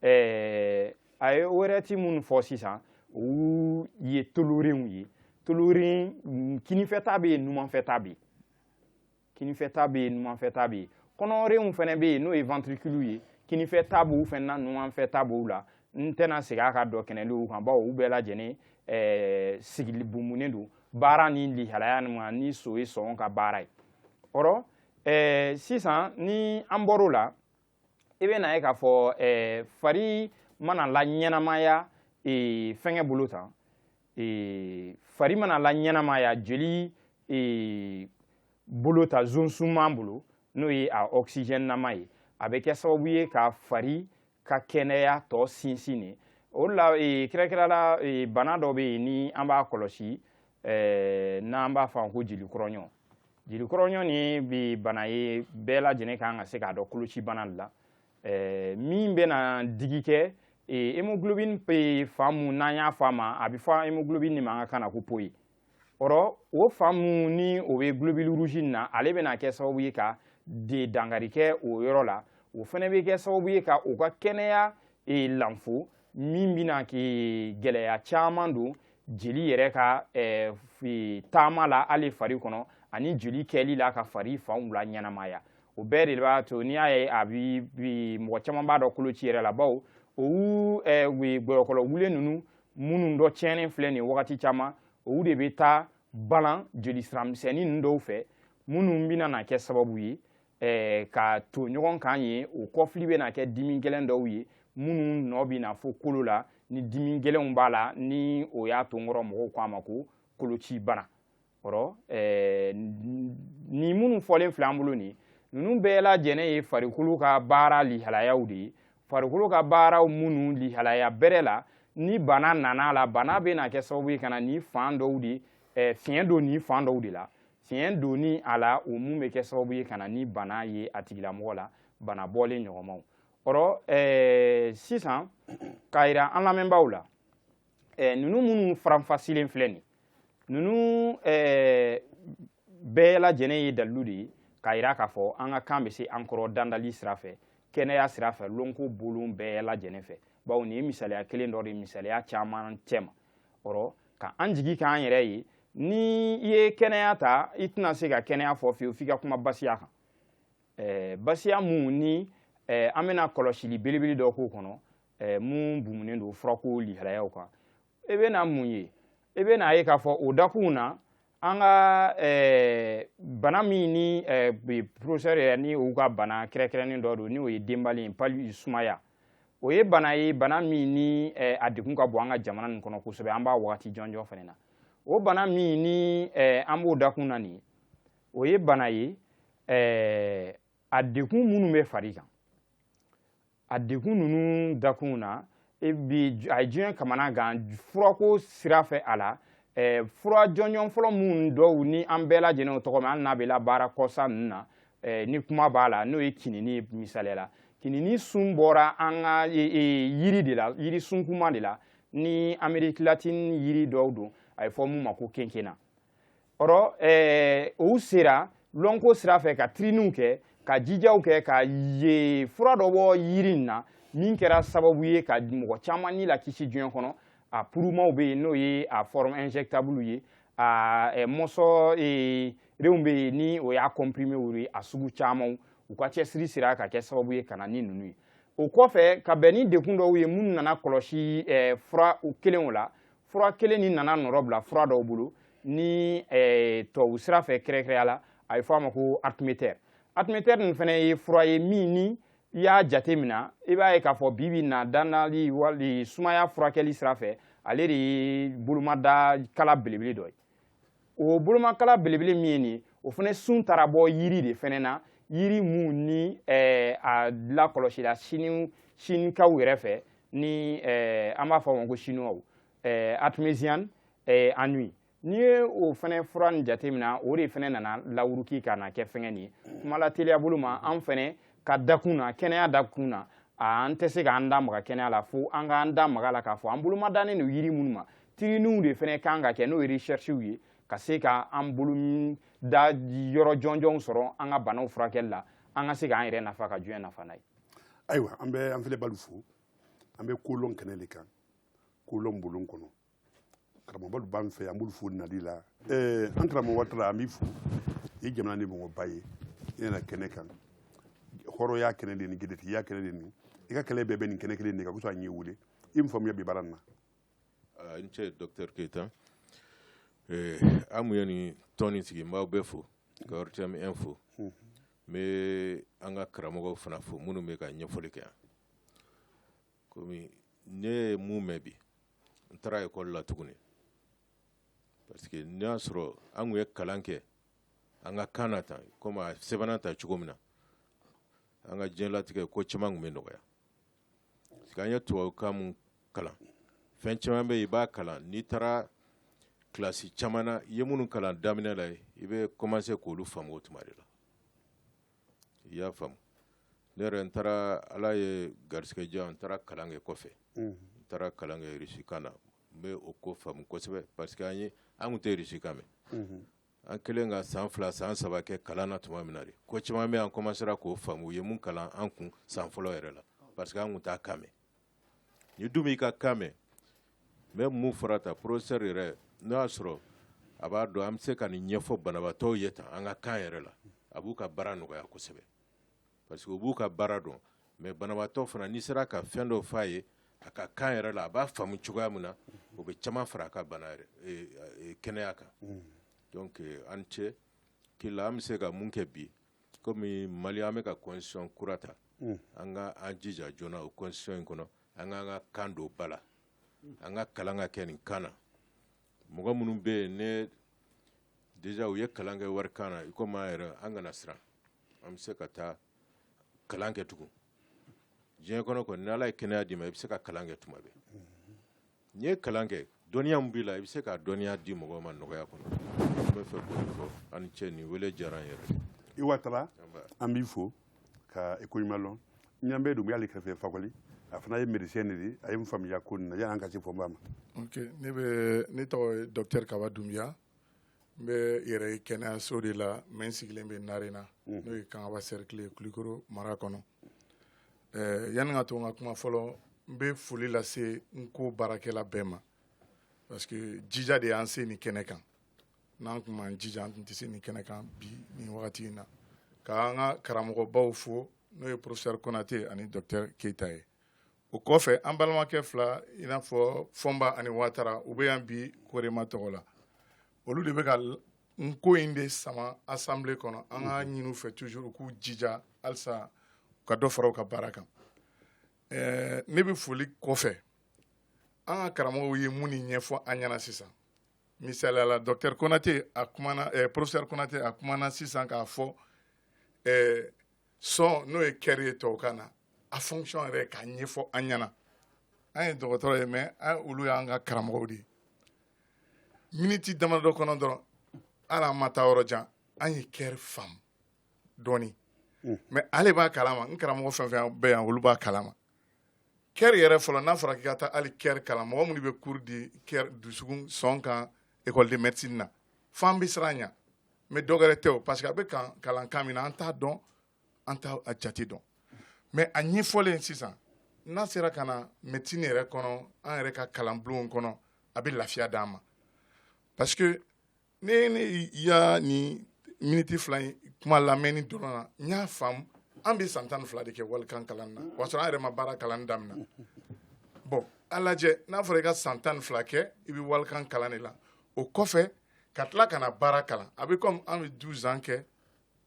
S2: ɛɛ a ye oreillette minnu fɔ sisan u ye tolorenw ye toloren kinifɛta bɛ yen numanfɛta bɛ yen kinifɛta bɛ yen numanfɛta bɛ yen kɔnɔrenw fana bɛ yen n'o ye ventricule ye kinifɛta b'u fana na numanfɛta b'u la n tɛna segin a ka dɔkɛnɛliw kan bawo u bɛɛ lajɛlen ɛɛ sigili bumunen don baara ni lihalaya nin ma ni so ye sɔn ka baara ye ɔrɔ ɛɛ sisan ni an bɔr'o la i bɛ na ye k'a fɔ eh, fari mana la ɲɛnamaya eh, fɛngɛ bolo tan eh, fari mana la ɲɛnamaya jeli eh, bolo ta zonsunman bolo n'o ye a oxygène nama ye a bɛ kɛ sababu ye ka fari ka kɛnɛya to sinsinnen o la eh, kɛrɛnkɛrɛn la eh, bana dɔ bɛ yen ni an b'a kɔlɔsi eh, n'an b'a fɔ a ma ko jeli kɔrɔɲɔ jeli kɔrɔɲɔ nin ye bi bana ye bɛɛ lajɛlen kan ka se k'a dɔn koloci bana la eh, min bɛna digi kɛ eh, hemoglobine bɛ fan mun n'an y'a fɔ a ma a bɛ fɔ hemoglobine nin ma an ka kan na ko po ye ɔrɔ o fan mun ni o bɛ globule rouge nin na ale bɛna kɛ sababu ye ka de dankari kɛ o yɔrɔ la o fana bɛ kɛ sababu ye ka o ka kɛnɛya e lanfo min bɛna gɛlɛya caman don jeli yɛrɛ ka eh, taama la hali fari kɔnɔ ani jeli kɛli la ka fari fanw la ɲɛnamaya o bɛɛ de b'a to n'i y'a ye a bi mɔgɔ caman b'a dɔn koloci yɛrɛ la bawo olu eh, gɔyɔkɔlɔ wule ninnu minnu dɔ tiɲɛnen filɛ nin wagati caman olu de bɛ taa balan jeli sira misɛnnin ninnu dɔw fɛ minnu bɛna na kɛ sababu ye eh, ka to ɲɔgɔn kan ye o kɔfili bɛna kɛ dimi gɛlɛn dɔw ye minnu nɔ bɛ na fo kolo la ni dimi gɛlɛnw b'a la ni o y'a to n kɔrɔ mɔgɔw ko a ma ko koloci bana ɔrɔ eh, nin minnu fɔlen filɛ an bolo nin ninnu bɛɛ lajɛlen ye farikolo ka baara lihalayaw de ye farikolo ka baaraw minnu lihalaya bɛrɛ la ni bana nana la bana bɛna kɛ sababu ye ka na ni fan dɔw de eh, fiɲɛ don ni fan dɔw de la Fiɲɛ donni a la o mun bɛ kɛ sababu ye ka na ni bana ye a tigilamɔgɔ la bana bɔlen ɲɔgɔnmaw ɔrɔ eh, sisan k'a yira an lamɛnbaaw la eh, ninnu minnu faranfasilen filɛ nin ninnu eh, bɛɛ lajɛlen ye dalilu de ye k'a yira k'a fɔ an ka kan bɛ se an kɔrɔ dandali sira fɛ kɛnɛya sira fɛ lɔnko bolon bɛɛ lajɛlen fɛ bawo nin ye misaliya kelen dɔ de misaliya caman cɛma ɔrɔ ka an jigi k'an yɛrɛ ye ni i ye kɛnɛya ta i tɛna se ka kɛnɛya fɔ fiyewu f'i ka kuma basiya kan eh, basiya mun ni eh, an bɛna kɔlɔsili belebele dɔ k'o kɔnɔ eh, mun bumunen don furako lihalayaw kan i bɛna mun ye i bɛna ye k'a fɔ o dakunw na an ka eh, bana min ni eh, professeur yɛrɛ ni u ka bana kɛrɛkɛrɛnnen dɔ don n'o ye dɛnbalen ye palu sumaya o ye bana ye bana min ni eh, a degun ka bon an ka jamana nin kɔnɔ kosɛbɛ an b'a wagati jɔnjɔn fana na o bana min ni eh, an b'o dakun na nin o ye bana ye eh, a degun minnu bɛ fari kan a degun ninnu dakunw na e bi a ye diɲɛ kamanagan furako sira fɛ a la eh, fura jɔnjɔn fɔlɔ minnu dɔw ni an bɛɛ lajɛlen y'o tɔgɔ mɛn hali n'a bɛ labaara kɔsa ninnu na eh, ni kuma b'a la n'o ye kinini misaliya la kinini sun bɔra an ka e, e, yiri de la yiri sunkunman de la ni Amérique latine yiri dɔw don a ye fɔ mun ma ko quinquina o rɔ eh, u sera lɔnko sira fɛ ka tiriniw kɛ ka jijaw kɛ ka eh, fura dɔ bɔ yiri in na min kɛra sababu ye ka mɔgɔ caman ni lakisi diɲɛ kɔnɔ a purumaw bɛ yen n'o ye a forme injectable ye a eh, mɔsɔ eh, renw bɛ yen ni o y'a compriméw ye a sugu camanw u ka cɛsiri sera ka kɛ sababu ye ka na ni ninnu ye o kɔfɛ ka bɛn ni degun dɔw ye minnu nana kɔlɔsi eh, fura kelen o la fura kelen nin nana nɔrɔbila fura dɔw bolo ni eh, tubabu sira fɛ kɛrɛkɛrɛya la a bɛ fɔ a ma ko artéméther artéméther nin fana ye fura ye min ni i y'a jate mina i b'a ye k'a fɔ bi bi na dɛnbalen wali sumaya furakɛli sira fɛ ale de ye bolomada kala belebele dɔ ye o bolomakala belebele min ye nin ye o fana sun taara bɔ yiri de fana na yiri mun ni eh, a lakɔlɔsila sini sinikaw yɛrɛ fɛ ni eh, an b'a fɔ o ma ko sinuwaw eh, artemisia annua n'i ye o fana fura nin jateminɛ o de fana nana lawuruki ka na kɛ fɛngɛ nin ye kuma lateliya bolo ma an fana ka dakun na kɛnɛya dakun na an tɛ se k'an da maga kɛnɛya la fo an k'an da maga a la k'a fɔ an bolomadannen don yiri minnu ma tiriniw de fana kan ka kɛ n'o ye recherchew ye ka se ka an bolo da yɔrɔ jɔnjɔnw sɔrɔ an ka banaw furakɛli la an ka se k'an yɛrɛ nafa ka diɲɛ nafa n'a ye ayiwa an bɛ
S1: an filɛbalu fo an bɛ kolon kɛnɛ de kan kolon bolon kɔnɔ karamɔgɔbalu b'an fɛ an b'olu fo nali la eh, an karamɔgɔ watara an b'i fo i jamana nin mɔgɔba ye i nana kɛnɛ kan hɔrɔnya kɛnɛ de ni jɛdɛtigiya kɛnɛ de ni i ka kɛlɛ bɛɛ bɛ nin kɛnɛ kelen de kan kosɔn an y'i wele i min faamuya bi baara nin na Ah, i ni
S4: ce dɔkitɛri keyita eh, an mun ye nin tɔn nin sigi n b'aw bɛɛ fo ka rtm in fo n bɛ an ka karamɔgɔw fana fo minnu bɛ ka ɲɛfɔli kɛ yan komi ne ye mun mɛn bi n taara ekɔli la tuguni parce que n'i y'a sɔrɔ an tun ye kalan kɛ an ka kan na tan komi a sɛbɛnna ta cogo min na an ka diɲɛlatigɛ ko caman tun bɛ nɔgɔya an ye tubabukan mun kalan fɛn caman bɛ i b'a kalan n'i taara kilasi caman na i ye minnu kalan daminɛ la i bɛ kɔmanse k'olu faamu o tuma de la i y'a faamu ne yɛrɛ n taara ala ye garisɛgɛ diya n taara kalan kɛ kɔfɛ n taara kalan kɛ irisikan na n bɛ o ko faamu kosɛbɛ parce que an ye an kun tɛ irisikan mɛn an kɛlen ka san fila san saba kɛ kalan na tuma min na de ko caman bɛ an kɔmansera k'o faamu u ye mun kalan an kun san fɔlɔ yɛrɛ la parce que an kun t'a kan mɛn n'i dun b'i ka kan mɛn n bɛ mun fɔra tan professeur yɛrɛ n'o y'a sɔrɔ a b'a dɔn an bɛ se ka nin ɲɛfɔ banabaatɔw ye tan an ka kan yɛrɛ la a b'u ka baara nɔgɔya kosɛbɛ Parce que u b'u ka baara dɔn mais banabaatɔ fana n'i sera ka fɛn dɔ f'a ye a ka kan yɛrɛ la a b'a faamu cogoya min na o bɛ caman fara a ka bana yɛrɛ e, e, kɛnɛya kan donc euh, an ce qui est là an bɛ se ka mun kɛ bi komi Mali an bɛ ka constitution kura ta an ka an jija joona o constitution in kɔnɔ an k'an ka kan don ba la an ka kalan ka kɛ nin kan na mɔgɔ minnu bɛ yen ne déjà u ye kalan kɛ walikan na i komi an yɛrɛ an kana siran an bɛ se ka taa kalan kɛ tugun diɲɛ kɔnɔ kɔni ni ala ye kɛnɛya d'i ma i bɛ se ka kalan kɛ tuma bɛɛ n'i ye kalan kɛ dɔnniya min b'i la i bɛ se ka dɔnniya di mɔgɔw ma nɔgɔya kɔnɔ an bɛ fɛ k'o fɔ aw ni cɛ nin wele diyara an yɛrɛ ye.
S1: Watara an b'i fo. ka i ko ɲuman lɔn n ɲa bɛ Dunbiya la i kɛrɛfɛ Fakɔli a fana ye médecin de ye a ye n faamuya ko nin na yanni an ka se Fɔnba ma ok ne bɛ
S5: ne tɔgɔ ye docteur Kaba Dunbiya n bɛ yɛrɛ ye kɛnɛyaso de la mais n sigilen bɛ Narena n'o ye Kangaba cercle ye Kulikoro mara kɔnɔ ɛɛ yanni ka to n ka kuma fɔlɔ n bɛ foli lase N'Ko baarakɛla bɛɛ ma parce que jija de y'an se nin kɛnɛ kan n'an tun m'an jija an tun tɛ se nin kɛnɛ kan bi nin wagati in na k'an ka karamɔgɔbaw fo n'o ye professeur Konate ani docteur Keyita ye o kɔfɛ an balimakɛ fila i n'a fɔ Fɔnba ani Watara u bɛ yan bi Korema tɔgɔ la olu de bɛ ka N'Ko in de sama assemblée kɔnɔ an ka ɲini u fɛ toujours u k'u jija halisa u ka dɔ fara u ka baara kan ɛɛ ne bɛ foli kɔfɛ an ka karamɔgɔw ye munnu ɲɛfɔ an ɲɛna sisan Misaliya la docteur Konate a kumana ɛɛ professeur Konate a kumana sisan k'a fɔ ɛɛ sɔn n'o ye cœur ye tubabukan na a fonction yɛrɛ k'a ɲɛfɔ an ɲɛna an ye dɔgɔtɔrɔ ye mais olu y'an ka karamɔgɔw de ye miniti damadɔ kɔnɔ dɔrɔn hali an ma taa yɔrɔ jan an ye cœur faamu dɔɔni mais ale b'a kalama n karamɔgɔ fɛn fɛn bɛ yan olu b'a kalama kɛri yɛrɛ fɔlɔ n'a fɔra k'i ka taa hali kɛri kalan mɔgɔ minnu bɛ cours di kɛri dusukun sɔn kan école de médecine na f'an bɛ siran ɲa mais dɔ wɛrɛ tɛ o parce que a bɛ kalan kan min na an t'a dɔn an t'a jate dɔn mais a ɲɛfɔlen sisan n'a sera ka na médecine yɛrɛ kɔnɔ an yɛrɛ ka kalanbulonw kɔnɔ a bɛ lafiya d'an ma parce que ne ye ne y'a nin miniti fila in kuma lamɛnni dɔrɔn na n y'a faamu an bɛ san tan ni fila de kɛ walikan kalan na o y'a sɔrɔ an yɛrɛ ma baara kalan damina bon a lajɛ n'a fɔra i ka san tan ni fila kɛ i bɛ walikan kalan de la o kɔfɛ ka tila ka na baara kalan a bɛ comme an bɛ douze ans kɛ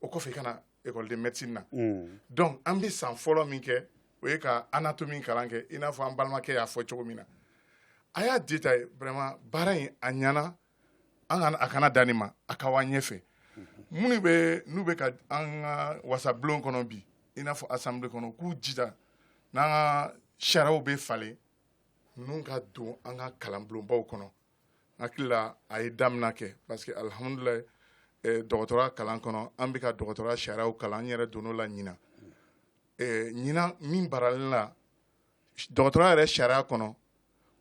S5: o kɔfɛ i ka na école de médecine na mm. donc an bɛ san fɔlɔ min kɛ o ye ka anatomie kalan kɛ i n'a fɔ an balimakɛ y'a fɔ cogo min na a y'a détaillé baara in a ɲana a a kana dan nin ma a ka wa ɲɛfɛ minnu bɛ n'u bɛ ka an ka wasabulon kɔnɔ bi i n'a fɔ assemblée kɔnɔ k'u jija n'an ka sariyaw bɛ falen ninnu ka don an ka kalanbulonbaw kɔnɔ hakili la a ye damina kɛ parce que alihamudulilahi eh, dɔgɔtɔrɔya kalan kɔnɔ an bɛ ka dɔgɔtɔrɔya sariyaw kalan an yɛrɛ donn'o la ɲinan eh, ɲinan min baralen la dɔgɔtɔrɔya yɛrɛ sariya kɔnɔ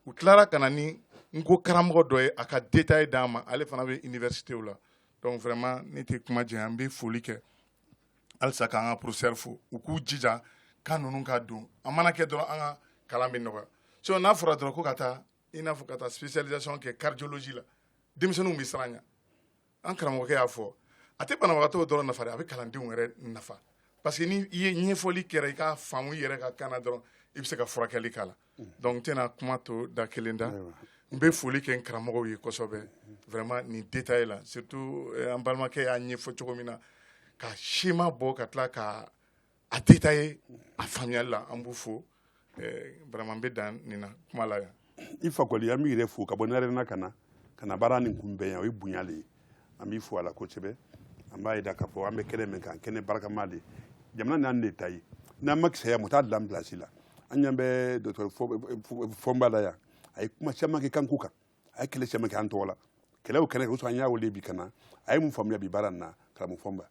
S5: u tilara ka na ni nko karamɔgɔ dɔ ye a ka détail d'an ma ale fana bɛ universitéw la donc vraiment ne tɛ kuma janya n bɛ foli kɛ halisa k'an ka professeur fo u k'u jija kan ninnu ka don a mana kɛ dɔrɔn an ka kalan bɛ nɔgɔya sinon n'a fɔra dɔrɔn ko ka taa i n'a fɔ ka taa spécialisation kɛ cardiologie la denmisɛnninw bɛ siran a ɲɛ an karamɔgɔkɛ y'a fɔ a tɛ banabagatɔw dɔrɔn nafa dɛ a bɛ kalandenw yɛrɛ nafa parce que n' i ye ɲɛfɔli kɛra i ka faamu i yɛrɛ ka kan na dɔrɔn i bɛ se ka furakɛli k'a la mm. donc n tɛna kuma to da kelen da n bɛ foli kɛ n karamɔgɔw ye kosɛbɛ vraiment nin détail la surtout eh, an balimakɛ y'a ɲɛfɔ cogo min na ka schéma bɔ ka tila ka a détaillé a faamuyali la an b'u fo eh, vraiment n bɛ dan nin na kuma la yan i fakɔli an b'i
S1: yɛrɛ fo ka bɔ narena ka na ka na baara nin kunbɛn yan o ye bonya le ye an b'i fo a la kosɛbɛ an b'a yida k'a fɔ an bɛ kɛnɛ min kan kɛnɛ barikama de jamana n'an de ta ye n'an ma kisɛya maa t'a dilan place la an ɲa bɛ dɔtɔrɔ fɔnba la yan a ye kuma caman kɛ kanko kan a ye kɛlɛ cɛman kɛ an tɔgɔ la kɛlɛw kɛnɛ kan an y'a wele bi ka na a ye mun faamuya bi baara nin na karamɔgɔ
S6: fɔnba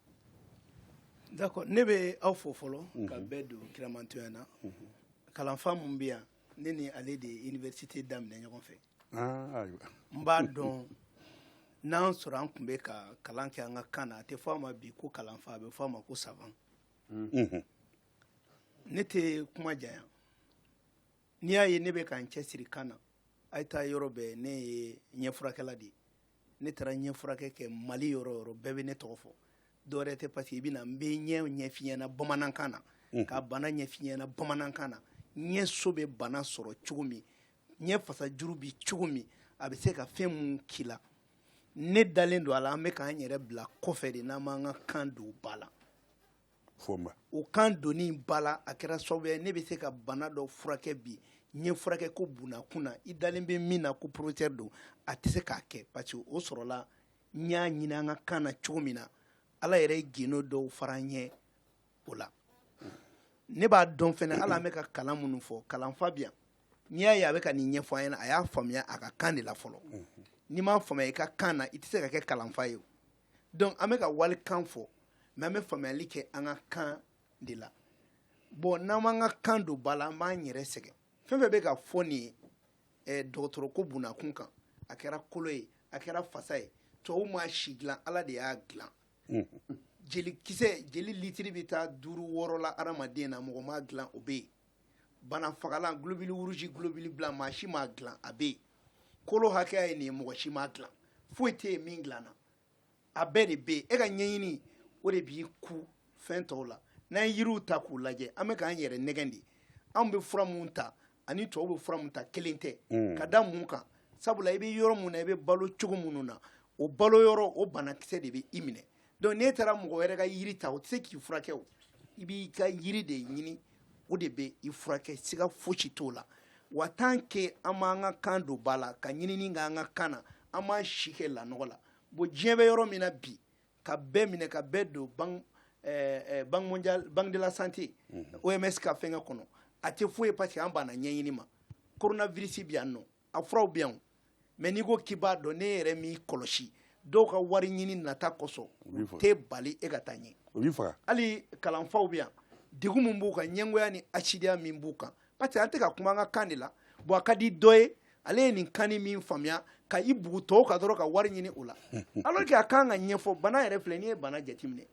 S6: d'accord ne bɛ aw fo fɔlɔ mhm. ka bɛɛ don kiramantɔya na mhm. kalanfa mun bɛ yan ne ni ale de ye université daminɛ ɲɔgɔn fɛ ah, n b'a dɔn n'an sɔrɔ an tun bɛ ka kalan kɛ an ka kan na a tɛ fɔ a ma bi ko kalanfa a bɛ fɔ a ma ko savant mhm. ne tɛ kuma janya n'i y'a ye ne bɛ ka n cɛsiri kan na a ye taa yɔrɔ bɛɛ ne ye ɲɛ furakɛla de ye ne taara ɲɛ furakɛ kɛ mali yɔrɔ yɔrɔ bɛɛ bɛ ne tɔgɔ fɔ dɔwɛrɛ tɛ parce que i bɛna n bɛ ɲɛ ɲɛf'i ɲɛna bamanankan na mm. ka bana ɲɛf'i ɲɛna bamanankan na ɲɛ so bɛ bana sɔrɔ cogo min ɲɛ fasajuru bɛ cogo min a bɛ se ka fɛn mun k'i la ne dalen don a la an bɛ k'an yɛrɛ bila kɔfɛ de n'an m'an ka kan don ba la o kan donni ba la a kɛra sababu ye ne bɛ se ka bana dɔ furakɛ bi ɲɛ furakɛ ko bunakun na i dalen bɛ min na ko professeur don a tɛ se k'a kɛ parce que o sɔrɔla n y'a ɲini an ka kan na cogo min na ala yɛrɛ ye gundo dɔw fara n ɲɛ o la ne b'a dɔn fɛnɛ hali an bɛ ka kalan minnu fɔ kalanfa bi yan n'i y'a ye a bɛ ka nin ɲɛfɔ an ɲɛna a y'a faamuya a ka kan de la fɔlɔ n'i m'a faamuya i ka kan na i tɛ se ka kɛ kalanfa ye donc an bɛ ka walikan fɔ mais an bɛ faamuyali kɛ an ka kan de la bon n'an m'an ka kan don ba la an b'an yɛrɛ sɛgɛn fɛn fɛn bɛ ka fɔ nin ye eh, dɔgɔtɔrɔ ko bunakun kan a kɛra kolo ye a kɛra fasa ye tubabu ma si dilan ala de y'a dilan jeli kisɛ jeli litiri bɛ taa duuru wɔɔrɔ la adamaden na mɔgɔ m'a dilan o bɛ yen bana fagalan globule rouge globule blanc maa si m'a dilan a bɛ yen kolo hakɛya ye nin ye mɔgɔ si m'a dilan foyi tɛ yen min dilanna a bɛɛ de bɛ yen e ka ɲɛɲini o de b'i ku fɛn tɔw la n'an ye yiriw ta k'u lajɛ an bɛ k'an yɛrɛ nɛgɛn de anw bɛ fura mun ta ani tubabu bɛ fura mun ta kelen tɛ mm. ka da mun kan sabula i bɛ yɔrɔ mun na i bɛ balo cogo minnu na o balo yɔrɔ o banakisɛ de bɛ i minɛ donc n'e taara mɔgɔ wɛrɛ ka yiri ta o tɛ se k'i furakɛ o i b'i ka yiri de ɲini o de bɛ i furakɛ siga fosi t'o la wa tant que an m'an ka kan don ba la ka ɲinini k'an ka kan na an b'an si kɛ lanɔgɔ la bon diɲɛ bɛ yɔrɔ min na bi ka bɛɛ minɛ ka bɛɛ don ban eh, eh, banque de la santé mhm. oms ka fɛnkɛ kɔnɔ a tɛ foyi ye parce que an banna ɲɛɲini ma koronavirisi bi yan nɔ a furaw bɛ yan mais n'i ko k'i b'a dɔn ne yɛrɛ m'i kɔlɔsi dɔw ka wari ɲini nata kosɔn u tɛ bali e ka taa ɲɛ hali kalanfaw bɛ yan degun min b'u kan ɲɛngoya ni hasidiya min b'u kan parce que an tɛ ka kuma an ka kan de la bon a ka di dɔ ye ale ye nin kannin min faamuya ka i bugu tɔw kan dɔrɔn ka wari ɲini o la alors que a kan ka ɲɛfɔ bana yɛrɛ filɛ n'i ye bana jateminɛ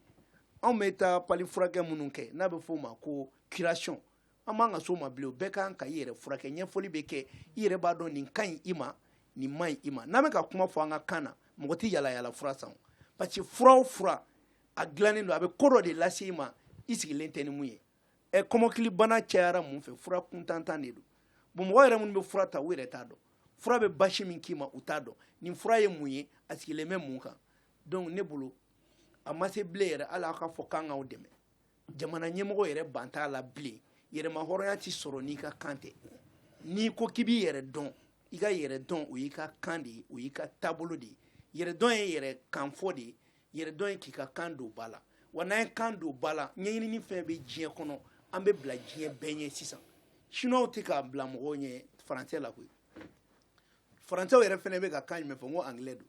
S6: anw bɛ taa pali furakɛ minnu kɛ n'a bɛ f'o ma ko curation An man ka s'o ma bilen bɛɛ kan ka i yɛrɛ furakɛ ɲɛfɔli bɛ kɛ i yɛrɛ b'a dɔn nin ka ɲi i ma nin man ɲi i ma n'an bɛ ka kuma fɔ an ka kan na mɔgɔ tɛ yaalayaala fura san parce que fura o fura a dilannen don a bɛ ko dɔ de lase i ma i sigilen tɛ ni mun ye ɛ kɔmɔkilibana cayara mun fɛ fura kuntantan de don bon mɔgɔ yɛrɛ minnu bɛ fura ta u yɛrɛ t'a dɔn fura bɛ basi min k'i ma u t'a dɔn nin fura ye mun ye a sigilen bɛ mun kan donc ne bolo a ma se bilen yɛrɛ hali aw ka fɔ k'an k'aw dɛmɛ jamana ɲɛmɔgɔ yɛrɛ ban t'a la bilen yɛrɛmahɔrɔnya tɛ sɔrɔ n'i ka kan tɛ n'i ko k'i b'i yɛrɛ dɔn i ka yɛrɛ dɔn o y'i ka kan de ye o y'i ka taabolo de ye yɛrɛ dɔn ye yɛrɛ kan fɔ de ye yɛrɛ dɔn ye k'i ka kan don ba la wa n'an ye kan don ba la ɲɛɲinini fɛn bɛ diɲɛ kɔnɔ an bɛ bila diɲɛ bɛɛ ɲɛ sisan siniwaw tɛ k'a bila mɔgɔw ɲɛ faransɛ la koyi faransɛw yɛrɛ fɛnɛ bɛ ka kan jumɛn fɔ n ko angilɛ don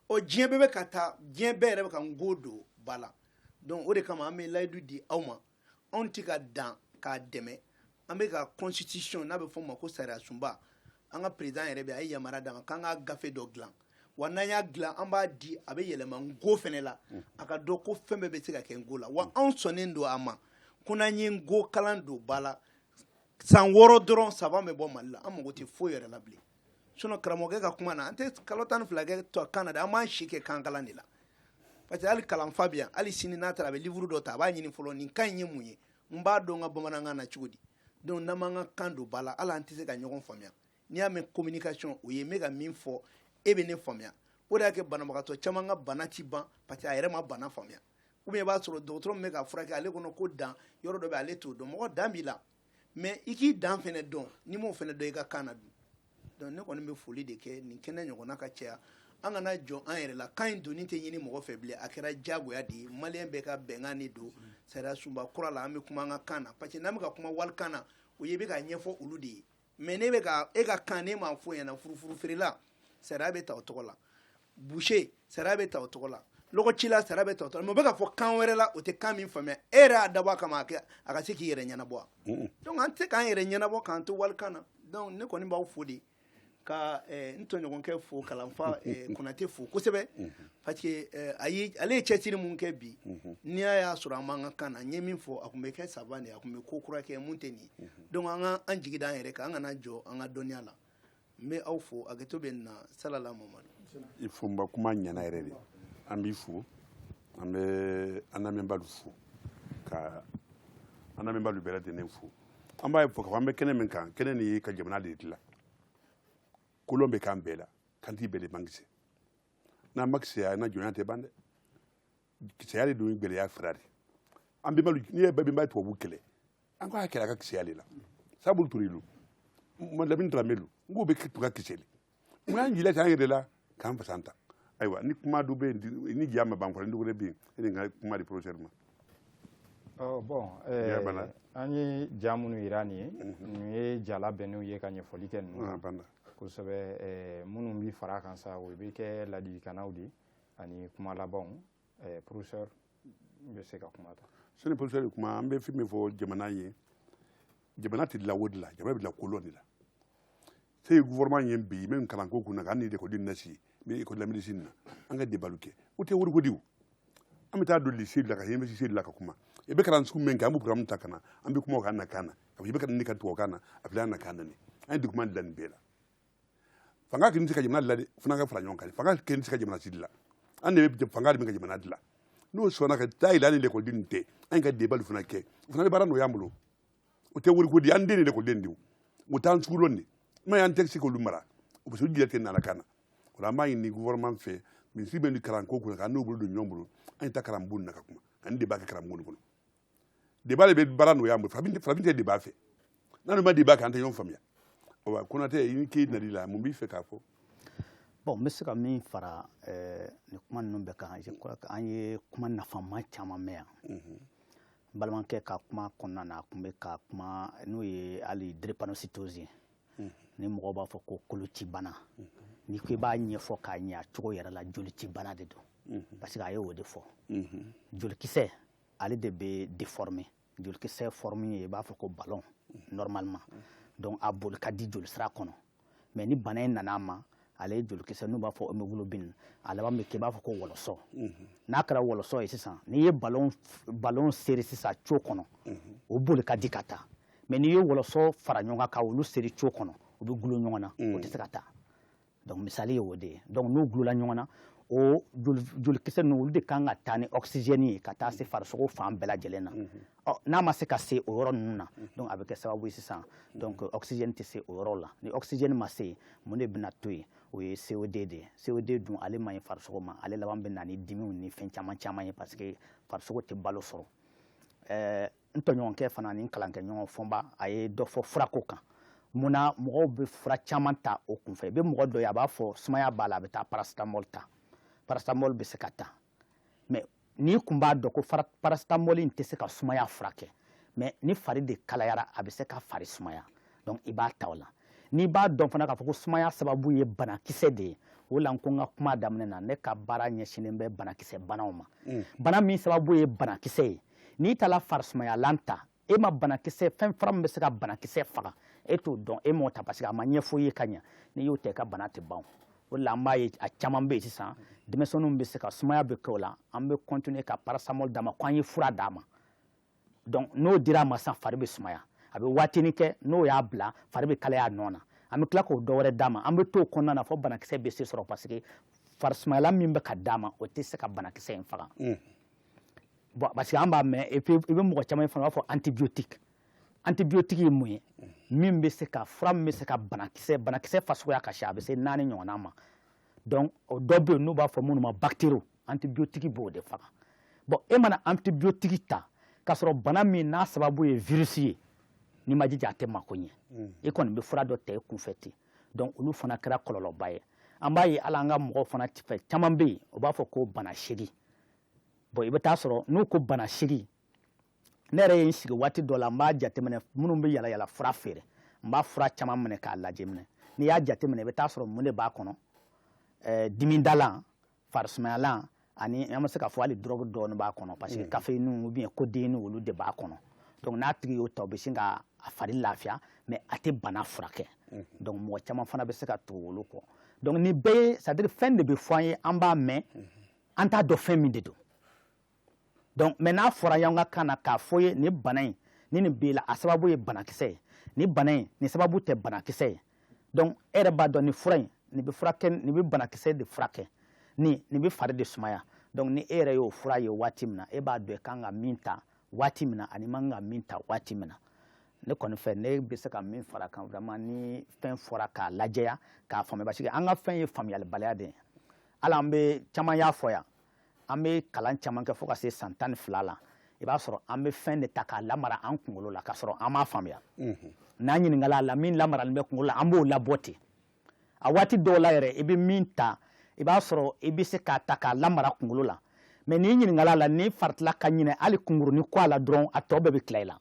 S6: ɔ diɲɛ bɛɛ bɛ ka taa diɲɛ bɛɛ yɛrɛ bɛ ka nko don ba la donc o de kama an bɛ layidu di aw ma anw tɛ ka dan k'a dɛmɛ an bɛ ka constitution n'a bɛ fɔ o ma ko sariyasunba an ka président yɛrɛ bɛ a ye yamaruya d'an ma k'an ka gafe dɔ dilan wa n'an y'a dilan an b'a di a bɛ yɛlɛma nko fɛnɛ la a ka dɔn ko fɛn bɛɛ bɛ se ka kɛ nko la wa anw sɔnnen don a ma ko n'an ye nko kalan don ba la san wɔɔrɔ dɔrɔn savant bɛ bɔ mali la an mago tɛ foyi yɛrɛ la bilen sinon karamɔgɔkɛ ka kuma na an tɛ kalo tan ni fila kɛ tɔ kan na dɛ an b'an si kɛ kan kalan de la parce que hali kalanfa bɛ yan hali sini n'a taara a bɛ livre dɔ ta a b'a ɲini fɔlɔ nin kan in ye mun ye n b'a dɔn n ka bamanankan na cogo di donc n'an m'an ka kan don ba la hali an tɛ se ka ɲɔgɔn faamuya n'i y'a mɛn communication o ye n bɛ ka min fɔ e bɛ ne faamuya o de y'a kɛ banabagatɔ caman ka bana tɛ ban parce que a yɛrɛ ma bana faamuya ou bien i b'a sɔrɔ dɔgɔtɔrɔ min bɛ k'a furakɛ ale kɔnɔ ko dan yɔrɔ dɔ bɛ ale t'o dɔn mɔgɔ dan b'i la mais i k'i dan fɛnɛ dɔn n'i m'o fɛnɛ dɔn i ka kan na dun donc ne kɔni bɛ foli de kɛ nin kɛnɛ ɲɔgɔnna ka caya an kana jɔn an yɛrɛ la kan in donni tɛ ɲini mɔgɔ fɛ bilen a kɛra diyagoya de ye maliyɛn bɛɛ ka bɛnkan de don sariyasunba kura la an bɛ kuma an ka kan na parce que n'an bɛ ka kuma walikan na o y'i bɛ ka ɲɛfɔ olu de ye mais ne bɛ ka e ka kan ne m'a fɔ ɲɛna furufuru feerela sariya bɛ ta o tɔgɔ la boucher sariya bɛ ta o tɔgɔ la lɔgɔcila sariya bɛ ta o tɔgɔ la mais o bɛ ka fɔ kan wɛrɛ la o tɛ kan min faamuya e yɛrɛ y'a dabɔ a kama a kɛ a ka se k'i yɛrɛ ɲɛnabɔ wa donc an tɛ se k'an yɛrɛ ɲɛnabɔ k'an to walikan na donc ne kɔni b'aw fo de ka eh, n tɔɲɔgɔnkɛ fo kalanfa eh, konate fo kosɛbɛ parce que eh, a ye ale ye cɛsiri mun kɛ bi n'i y'a y'a sɔrɔ an b'an ka kan na n ye min fɔ a tun bɛ kɛ savant de ye a tun bɛ ko kura kɛ mun tɛ nin ye donc an ka an jigi da an yɛrɛ kan an kana jɔn an ka dɔnniya la n bɛ aw fo hakɛto bɛ n na salala mamadi fonba kuma
S1: ɲana yɛrɛ de an b'i fo an bɛ an lamɛnbaalu fo ka an lamɛnbaalu bɛɛ lajɛlen fo an b'a fɔ k'a fɔ an bɛ kɛnɛ min kan kɛnɛ nin ye ka jamana de dilan kolon bɛ kan bɛɛ la kantii bɛɛ de man kisɛ n'an ma kisɛya an na jɔnya tɛ ban dɛ kisɛya de don gɛlɛya fura de an bɛnbalu n'i ye bɛnba tubabu kɛlɛ an k'a kɛlɛ a ka kisɛya de la sabu ture lu lamini darame lu n k'o bɛɛ tun ka kisɛ de mun y'an jila k'an yɛrɛ la k'an fasa ta ayiwa ni kuma dɔ bɛ yen ni ja ma ban kɔrɔ ni dɔgɔnin bɛ yen e de ka kuma di professeur ma
S2: Oh, bon eh, an ye ja minnu yira nin ye mhm. nin ye ja labɛnnenw ye ka ɲɛfɔli kɛ ninnu na kosɛbɛ eh, minnu bi fara kan sa o bɛ kɛ ladilikannaw de ye ani kuma labanw eh, professeur n bɛ se ka kuma ta sani professeur de
S1: kuma an bɛ fɛn min fɔ jamana ye jamana tɛ dilan wodi la jamana bɛ dilan kolɔn de la se ye gouvernement ye bi min kalanko kunna ka hali ni ekɔliden na si ni école la médecine na an ka débat lu kɛ o tɛ wariko di o an bɛ taa don lycée de la ka université de la ka kuma i bɛ kalan sugu min kɛ an bɛ programme ta ka na an bɛ kuma o kan na kan na a fɔ i bɛ ka nin de ka tubabu kan na a filɛ an na kan na nin an ye document dilan nin bɛɛ la fanga kelen tɛ se ka jamana dilan dɛ fana ka fara ɲɔgɔn kan fanga kelen tɛ se ka jamana si dilan an de bɛ fanga de bɛ ka jamana dilan n'o sɔnna ka taa yɛlɛ an ni lekɔliden nin tɛ an ka débat fana kɛ o fana bɛ baara nɔgɔya an bolo o tɛ woriko di an den de lekɔliden de o t'an sugu lɔn de n'o y'an tɛ se k'olu mara o bɛ se jɛ tɛ nana kan na o la an b'a ɲini gouvernement fɛ minisiri bɛ nin kalanko kunna k'an n'u bolo don ɲɔgɔn bolo an ye taa kalanbon na ka kuma ani débat kɛ kalanbon kɔnɔ débat de bɛ baara nɔgɔya an bolo farafin tɛ débat fɛ n'an ma débat kɛ an tɛ ɲɔgɔn faamuya wa Konatɛ i ni k'i nali la mun b'i fɛ k'a fɔ bon n bɛ
S3: se ka min fara eh, nin kuma ninnu bɛɛ kan je crois que an ye kuma nafama caman mɛn yan mhm. n balimakɛ ka kuma kɔnɔna na a tun bɛ ka kuma n'o ye hali drépanocytose ye mhm. ni mɔgɔw b'a fɔ ko kolocibana mhm. n'i ko i b'a ɲɛfɔ k'a ɲɛ a cogo yɛrɛ la jolicibana de don parce que a ye o de fɔ jolikisɛ ale de bɛ déformer jolikisɛ forme ye i b'a fɔ ko ballon normalement donc a boli ka di jolisira kɔnɔ mais ni bana in nana a ma ale ye jolikisɛ n'u b'a fɔ hémoglobine a laban bɛ kɛ i b'a fɔ ko wɔlɔsɔ n'a kɛra wɔlɔsɔ ye sisan n'i ye ballon seri sisan tuyau kɔnɔ o boli ka di ka taa mais n'i ye wɔlɔsɔ fara ɲɔgɔn kan ka olu seri tuyau kɔnɔ u bɛ gulo ɲɔgɔn na o tɛ se ka taa donc misali ye o de ye donc n'u gulola ɲɔgɔn na o jolikisɛ ninnu olu de kan ka taa ni ɔkisijɛni ye ka taa se farisogo fan bɛɛ lajɛlen na ɔ n'a ma se ka se o yɔrɔ ninnu na donc a bɛ kɛ sababu ye sisan donc ɔkisijɛni tɛ se o yɔrɔ la ni ɔkisijɛni ma se mun de bɛna to yen o ye CO2 de ye CO2 dun ale man ɲi farisogo ma ale laban bɛ na ni dimiw ni fɛn caman caman ye parce que farisogo tɛ balo sɔrɔ ɛɛ n tɔɲɔgɔnkɛ fana ni n kalankɛɲɔgɔn Fɔnba a ye dɔ fɔ furako kan mun na mɔgɔw bɛ fura caman ta o kunfɛ i bɛ mɔgɔ dɔ ye a b'a fɔ sumaya b'a la a bɛ taa paracetamol ta paracetamol bɛ se ka ta mais n'i kun b'a dɔn ko paracetamol in tɛ se ka sumaya furakɛ mais ni fari de kalayara a bɛ se ka fari sumaya donc i b'a ta o la n'i b'a dɔn fana k'a fɔ ko sumaya sababu ye banakisɛ de ye o la n ko n ka kuma daminɛ na ne ka baara ɲɛsinnen bɛ banakisɛ banaw ma mm. bana min sababu ye banakisɛ ye n'i taara farisumayalan ta e ma banakisɛ fɛn fura min bɛ se ka banakisɛ faga e t'o dɔn e m'o ta parce que a ma ɲɛfɔ i ye ka ɲɛ n'i y'o ta i ka bana tɛ ban o de la an b'a ye a caman bɛ yen sisan denmisɛnninw bɛ se ka sumaya bɛ kɛ o la an bɛ continuer ka paracetamol d'a ma ko an ye fura d'a ma donc n'o dira a ma sisan fari bɛ sumaya a bɛ waatinin kɛ n'o y'a bila fari bɛ kalaya a nɔ na an bɛ tila k'o dɔ wɛrɛ d'a ma an bɛ t'o kɔnɔna na fo banakisɛ bɛ se sɔrɔ parce que farisumayalan min bɛ ka d'a ma o tɛ se ka banakisɛ in faga bon parce que an b'a mɛn et puis i bɛ mɔgɔ caman ye fana u b'a fɔ antibiotique antibiotique ye mun ye min bɛ se ka fura min bɛ se ka banakisɛ banakisɛ fana suguya ka ca a bɛ se naani ɲɔgɔnna ma donc o dɔ bɛ yen n'u b'a fɔ minnu ma bactéries antibiotique b'o de faga bon e mana antibiotique ta k'a sɔrɔ bana min n'a sababu ye virus ye n'i m'i jija a tɛ mako ɲɛ mm. i kɔni bɛ fura dɔ ta i kunfɛ ten donc olu fana kɛra kɔlɔlɔba ye an b'a ye hali an ka mɔgɔw fana fɛ caman bɛ yen o b'a fɔ ko bana seegin bon i bɛ taa sɔrɔ n'u ko bana seegin ne yɛrɛ ye n sigi waati dɔ la n b'a jateminɛ minnu bɛ yalayala fura feere n b'a fura caman minɛ k'a lajɛ minɛ n'i y'a jateminɛ i bɛ taa sɔrɔ mun de b'a kɔnɔ eh, dimimadalan farisumayalan ani an bɛ se k'a fɔ hali dɔrɔgu dɔɔni b'a kɔnɔ parce que mm. caféine ou bien codéine olu de b'a kɔnɔ donc n'a tigi y'o ta o bɛ sin ka a fari lafiya mais a tɛ bana furakɛ mm. donc mɔgɔ caman fana bɛ se ka tugu olu kɔ donc nin bɛɛ ye c'est à dire fɛn de bɛ fɔ an ye an b'a mɛn mm-hmm. an t'a dɔn fɛn min de don donc mais n'a fɔra y'an ka kan na k'a fɔ i ye nin bana in ni nin b'i la a sababu ye banakisɛ ye nin bana in nin sababu tɛ banakisɛ ye donc e yɛrɛ b'a dɔn nin fura in nin bɛ furakɛ nin bɛ banakisɛ de furakɛ nin nin bɛ fari de sumaya donc ni e yɛrɛ y'o fura ye waati min na e b'a dɔn i kan ka min ta waati min na ani man kan ka min ta waati min na ne kɔni fɛ ne bɛ se ka min fara a kan vraiment ni fɛn fɔra k'a lajɛya k'a faamuya parce que an ka fɛn ye faamuyalibaliya de ye hali an bɛ caman y'a fɔ yan an bɛ kalan caman kɛ fo ka se san tan ni fila la i b'a sɔrɔ an bɛ fɛn de ta k'a lamara an kunkolo la k'a sɔrɔ an m'a faamuya n'an ɲininkala a la min lamaralen bɛ kunkolo la an b'o labɔ ten a waati dɔw la yɛrɛ i bɛ min ta i b'a sɔrɔ i bɛ se k'a ta k'a lamara kunkolo la mais n'i ɲininkala a la n'i faratila ka ɲinɛ hali kunkurunin kɔ a la dɔrɔn a tɔ bɛɛ bɛ tila i la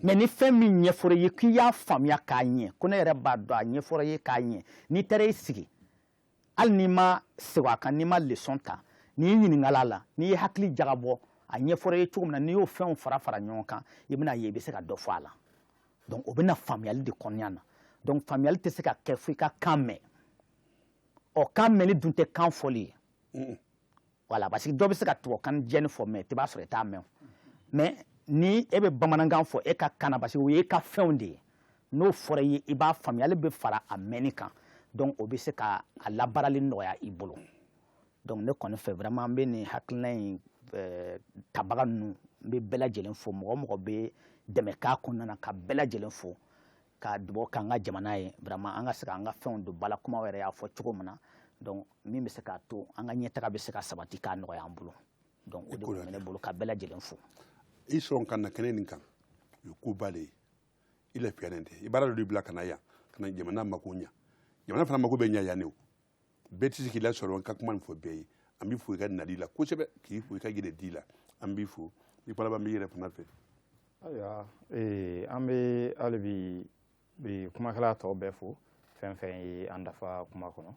S3: mais ni fɛn min ɲɛfɔra i ye k'i y'a faamuya k'a ɲɛ ko ne yɛrɛ b'a dɔn a ɲɛfɔra i ye k'a ɲɛ n'i taara i sigi hali n'i ma segin a kan n'i ma leçon ta n'i ɲininkala a la n'i ye hakili jagabɔ a ɲɛfɔra i ye cogo min na n'i y'o fɛnw fara fara ɲɔgɔn kan i bɛna ye i bɛ se ka dɔ fɔ a la donc o bɛ na faamuyali de kɔnɔna na donc faamuyali tɛ se ka kɛ fo i ka kan mɛn ɔ kan mɛnni dun tɛ kan fɔli ye voilà parce que dɔ bɛ se ka tubabukan jɛni fɔ mais i b'a sɔrɔ i t'a mɛn mais ni e bɛ bamanankan fɔ e ka kan na parce que o y'e ka fɛnw de ye n'o fɔra i ye i b'a faamuya ale bɛ fara a mɛnni kan donc o bɛ se ka a labaarali nɔgɔya i bolo donc ne kɔni fɛ vraiment n bɛ nin hakilina in eh, tabaga ninnu n bɛ bɛɛ lajɛlen fo mɔgɔ o mɔgɔ bɛ dɛmɛ k'a kɔnɔna na ka bɛɛ lajɛlen fo ka dugawu k'an ka jamana ye vraiment an ka se k'an ka fɛnw dɔn Bala kuma yɛrɛ y'a fɔ cogo min na donc min bɛ se k'a to an ka ɲɛtaga bɛ se ka sabati k'a nɔgɔya an bolo donc o de tun bɛ ne bolo ka bɛɛ lajɛlen fo i sɔn
S1: ka na kɛnɛ nin kan o ye koba de ye i lafiyalen tɛ i baara dɔ de bila ka na yan ka na jamana mako ɲa jamana fana mako bɛ ɲa yan ne o bɛɛ tɛ se k'i lasɔrɔ n ka kuma nin fɔ bɛɛ ye an b'i fo i ka nali la kosɛbɛ k'i fo i ka yɛrɛdi la an b'i fo i ka laban b'i yɛrɛ fana fɛ ayiwa
S2: ee, an bɛ hali bi kumakɛla tɔw bɛɛ fo fɛn fɛn ye an dafa kuma kɔnɔ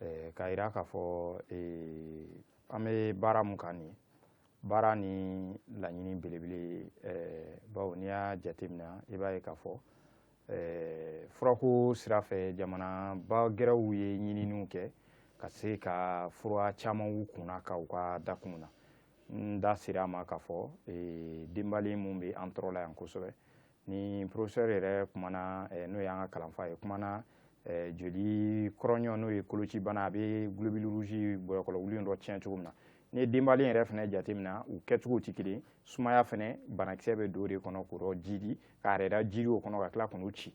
S2: ee, k'a yira k'a fɔ ee, an bɛ baara mun kan nin ye baara ni laɲini belebele ee, bawo n'i y'a jateminɛ i b'a ye k'a fɔ Eh, furako sira fɛ jamanaba gɛrɛw ye ɲininiw kɛ ka se ka fura camanw kunna ka u ka dakun na n da sera a ma k'a fɔ eh, denbali min bɛ an tɔɔrɔ la yan kosɛbɛ ni professeur yɛrɛ kumana eh, n'o y'an ka kalanfa ye kumana joli kɔrɔɲɔ n'o ye kolocibana a bɛ globule rouge bɔyɔkɔlɔ wuli dɔ tiɲɛ cogo min na N'i ye denbali yɛrɛ fana jateminɛ u kɛcogo tɛ kelen sumaya fana banakisɛ bɛ don o de kɔnɔ k'o jiidi k'a yɛrɛ jiidi o kɔnɔ ka tila k'o ci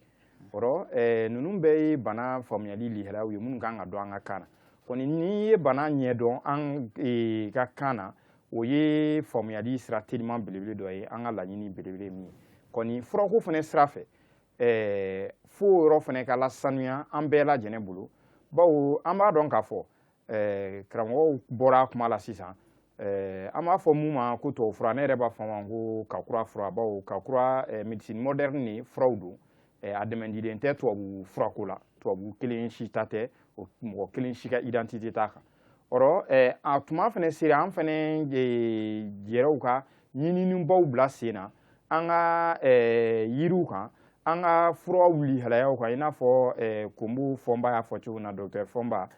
S2: o ninnu bɛɛ ye bana faamuyali lihalaw ye minnu kan ka dɔn an ka kan na n'i ye bana ɲɛdɔn an ka kan na o ye faamuyali sira teliman belebele dɔ ye an ka laɲini belebele min ye furako fana sira fɛ fo yɔrɔ fana ka lasanuya an bɛɛ lajɛlen bolo bawo an b'a dɔn k'a fɔ eh, karamɔgɔw bɔra kuma la sisan eh, an b'a fɔ mun ma ko tubabu fura ne yɛrɛ b'a fɔ ma ko kakura fura bawo kakura eh, médecine moderne ni furaw don eh, a dɛmɛdilen tɛ tubabu furako la tubabu kelen si ta tɛ mɔgɔ kelen si ka identité t'a kan ɔrɔ eh, a tuma fana sera an fana eh, yɛrɛw ka ɲininibaw bila sen na an ka yiriw kan an ka furaw lihalayaw kan i n'a fɔ Konbo Fɔnba y'a fɔ cogo na docteur Fɔnba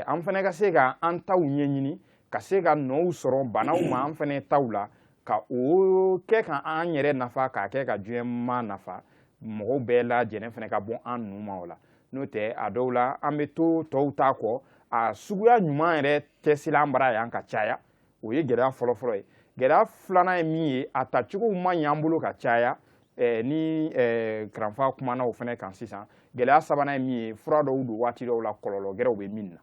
S2: an fana ka se ka an taw ɲɛɲini ka se ka nɔw sɔrɔ banaw ma an fana taw la ka o kɛ ka an yɛrɛ nafa k'a kɛ ka diɲɛma nafa mɔgɔw bɛɛ lajɛlen fana ka bɔ an nun ma o la n'o tɛ a dɔw la an bɛ to tɔw ta kɔ a suguya ɲuman yɛrɛ tɛ sila an bara yan ka caya o ye gɛlɛya fɔlɔfɔlɔ ye gɛlɛya filanan ye min ye a tacogow ma ɲ'an bolo ka caya eh, ni eh, karanfa kumana o fana kan sisan gɛlɛya sabanan ye min ye fura dɔw don waati dɔw la kɔlɔlɔ gɛrɛw bɛ min na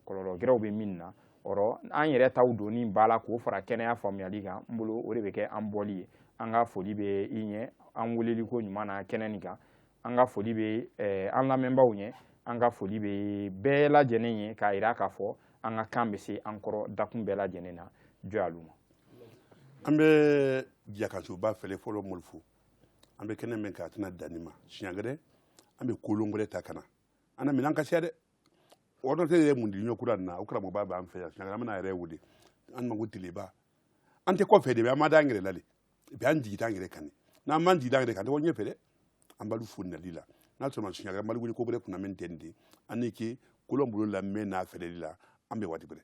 S2: kɔlɔlɔ gɛrɛw bɛ min na ɔrɔ an yɛrɛ taw donni b'a la k'o fara kɛnɛya faamuyali kan n bolo o de bɛ kɛ an bɔli ye an ka foli bɛ i ɲɛ an weleliko ɲuman na kɛnɛ nin kan an ka foli bɛ eh, an lamɛnbaaw ɲɛ an ka foli bɛ bɛɛ lajɛlen ye k'a yira k'a fɔ an ka kan bɛ se an kɔrɔ dakun bɛɛ lajɛlen na jɔyalu ma an bɛ
S1: jakasuba fɛlɛ fɔlɔ moli fo an bɛ kɛnɛ min kɛ a tɛna danni ma siɲɛ gɛrɛ an bɛ kolon gɛrɛ ta ka na an na minɛn ka siya dɛ ordinateur yɛrɛ mun di ɲɔ kura nin na o karamɔgɔba b'an fɛ yan siɲɛ gɛrɛ an bɛna a yɛrɛ wele an mago tileba an tɛ kɔfɛ de bɛ an ma da an yɛrɛ la de et puis an jigida an yɛrɛ kan n'an m'an jigida an yɛrɛ kan an tɛ bɔ ɲɛfɛ dɛ an b'alu fo nali la n'ala sɔnna a ma siɲɛ gɛrɛ an b'alu wele ko gɛrɛ kunna min tɛ nin de an ni ke kolon bolo lamɛn n'a fɛlɛli la an bɛn waati gɛrɛ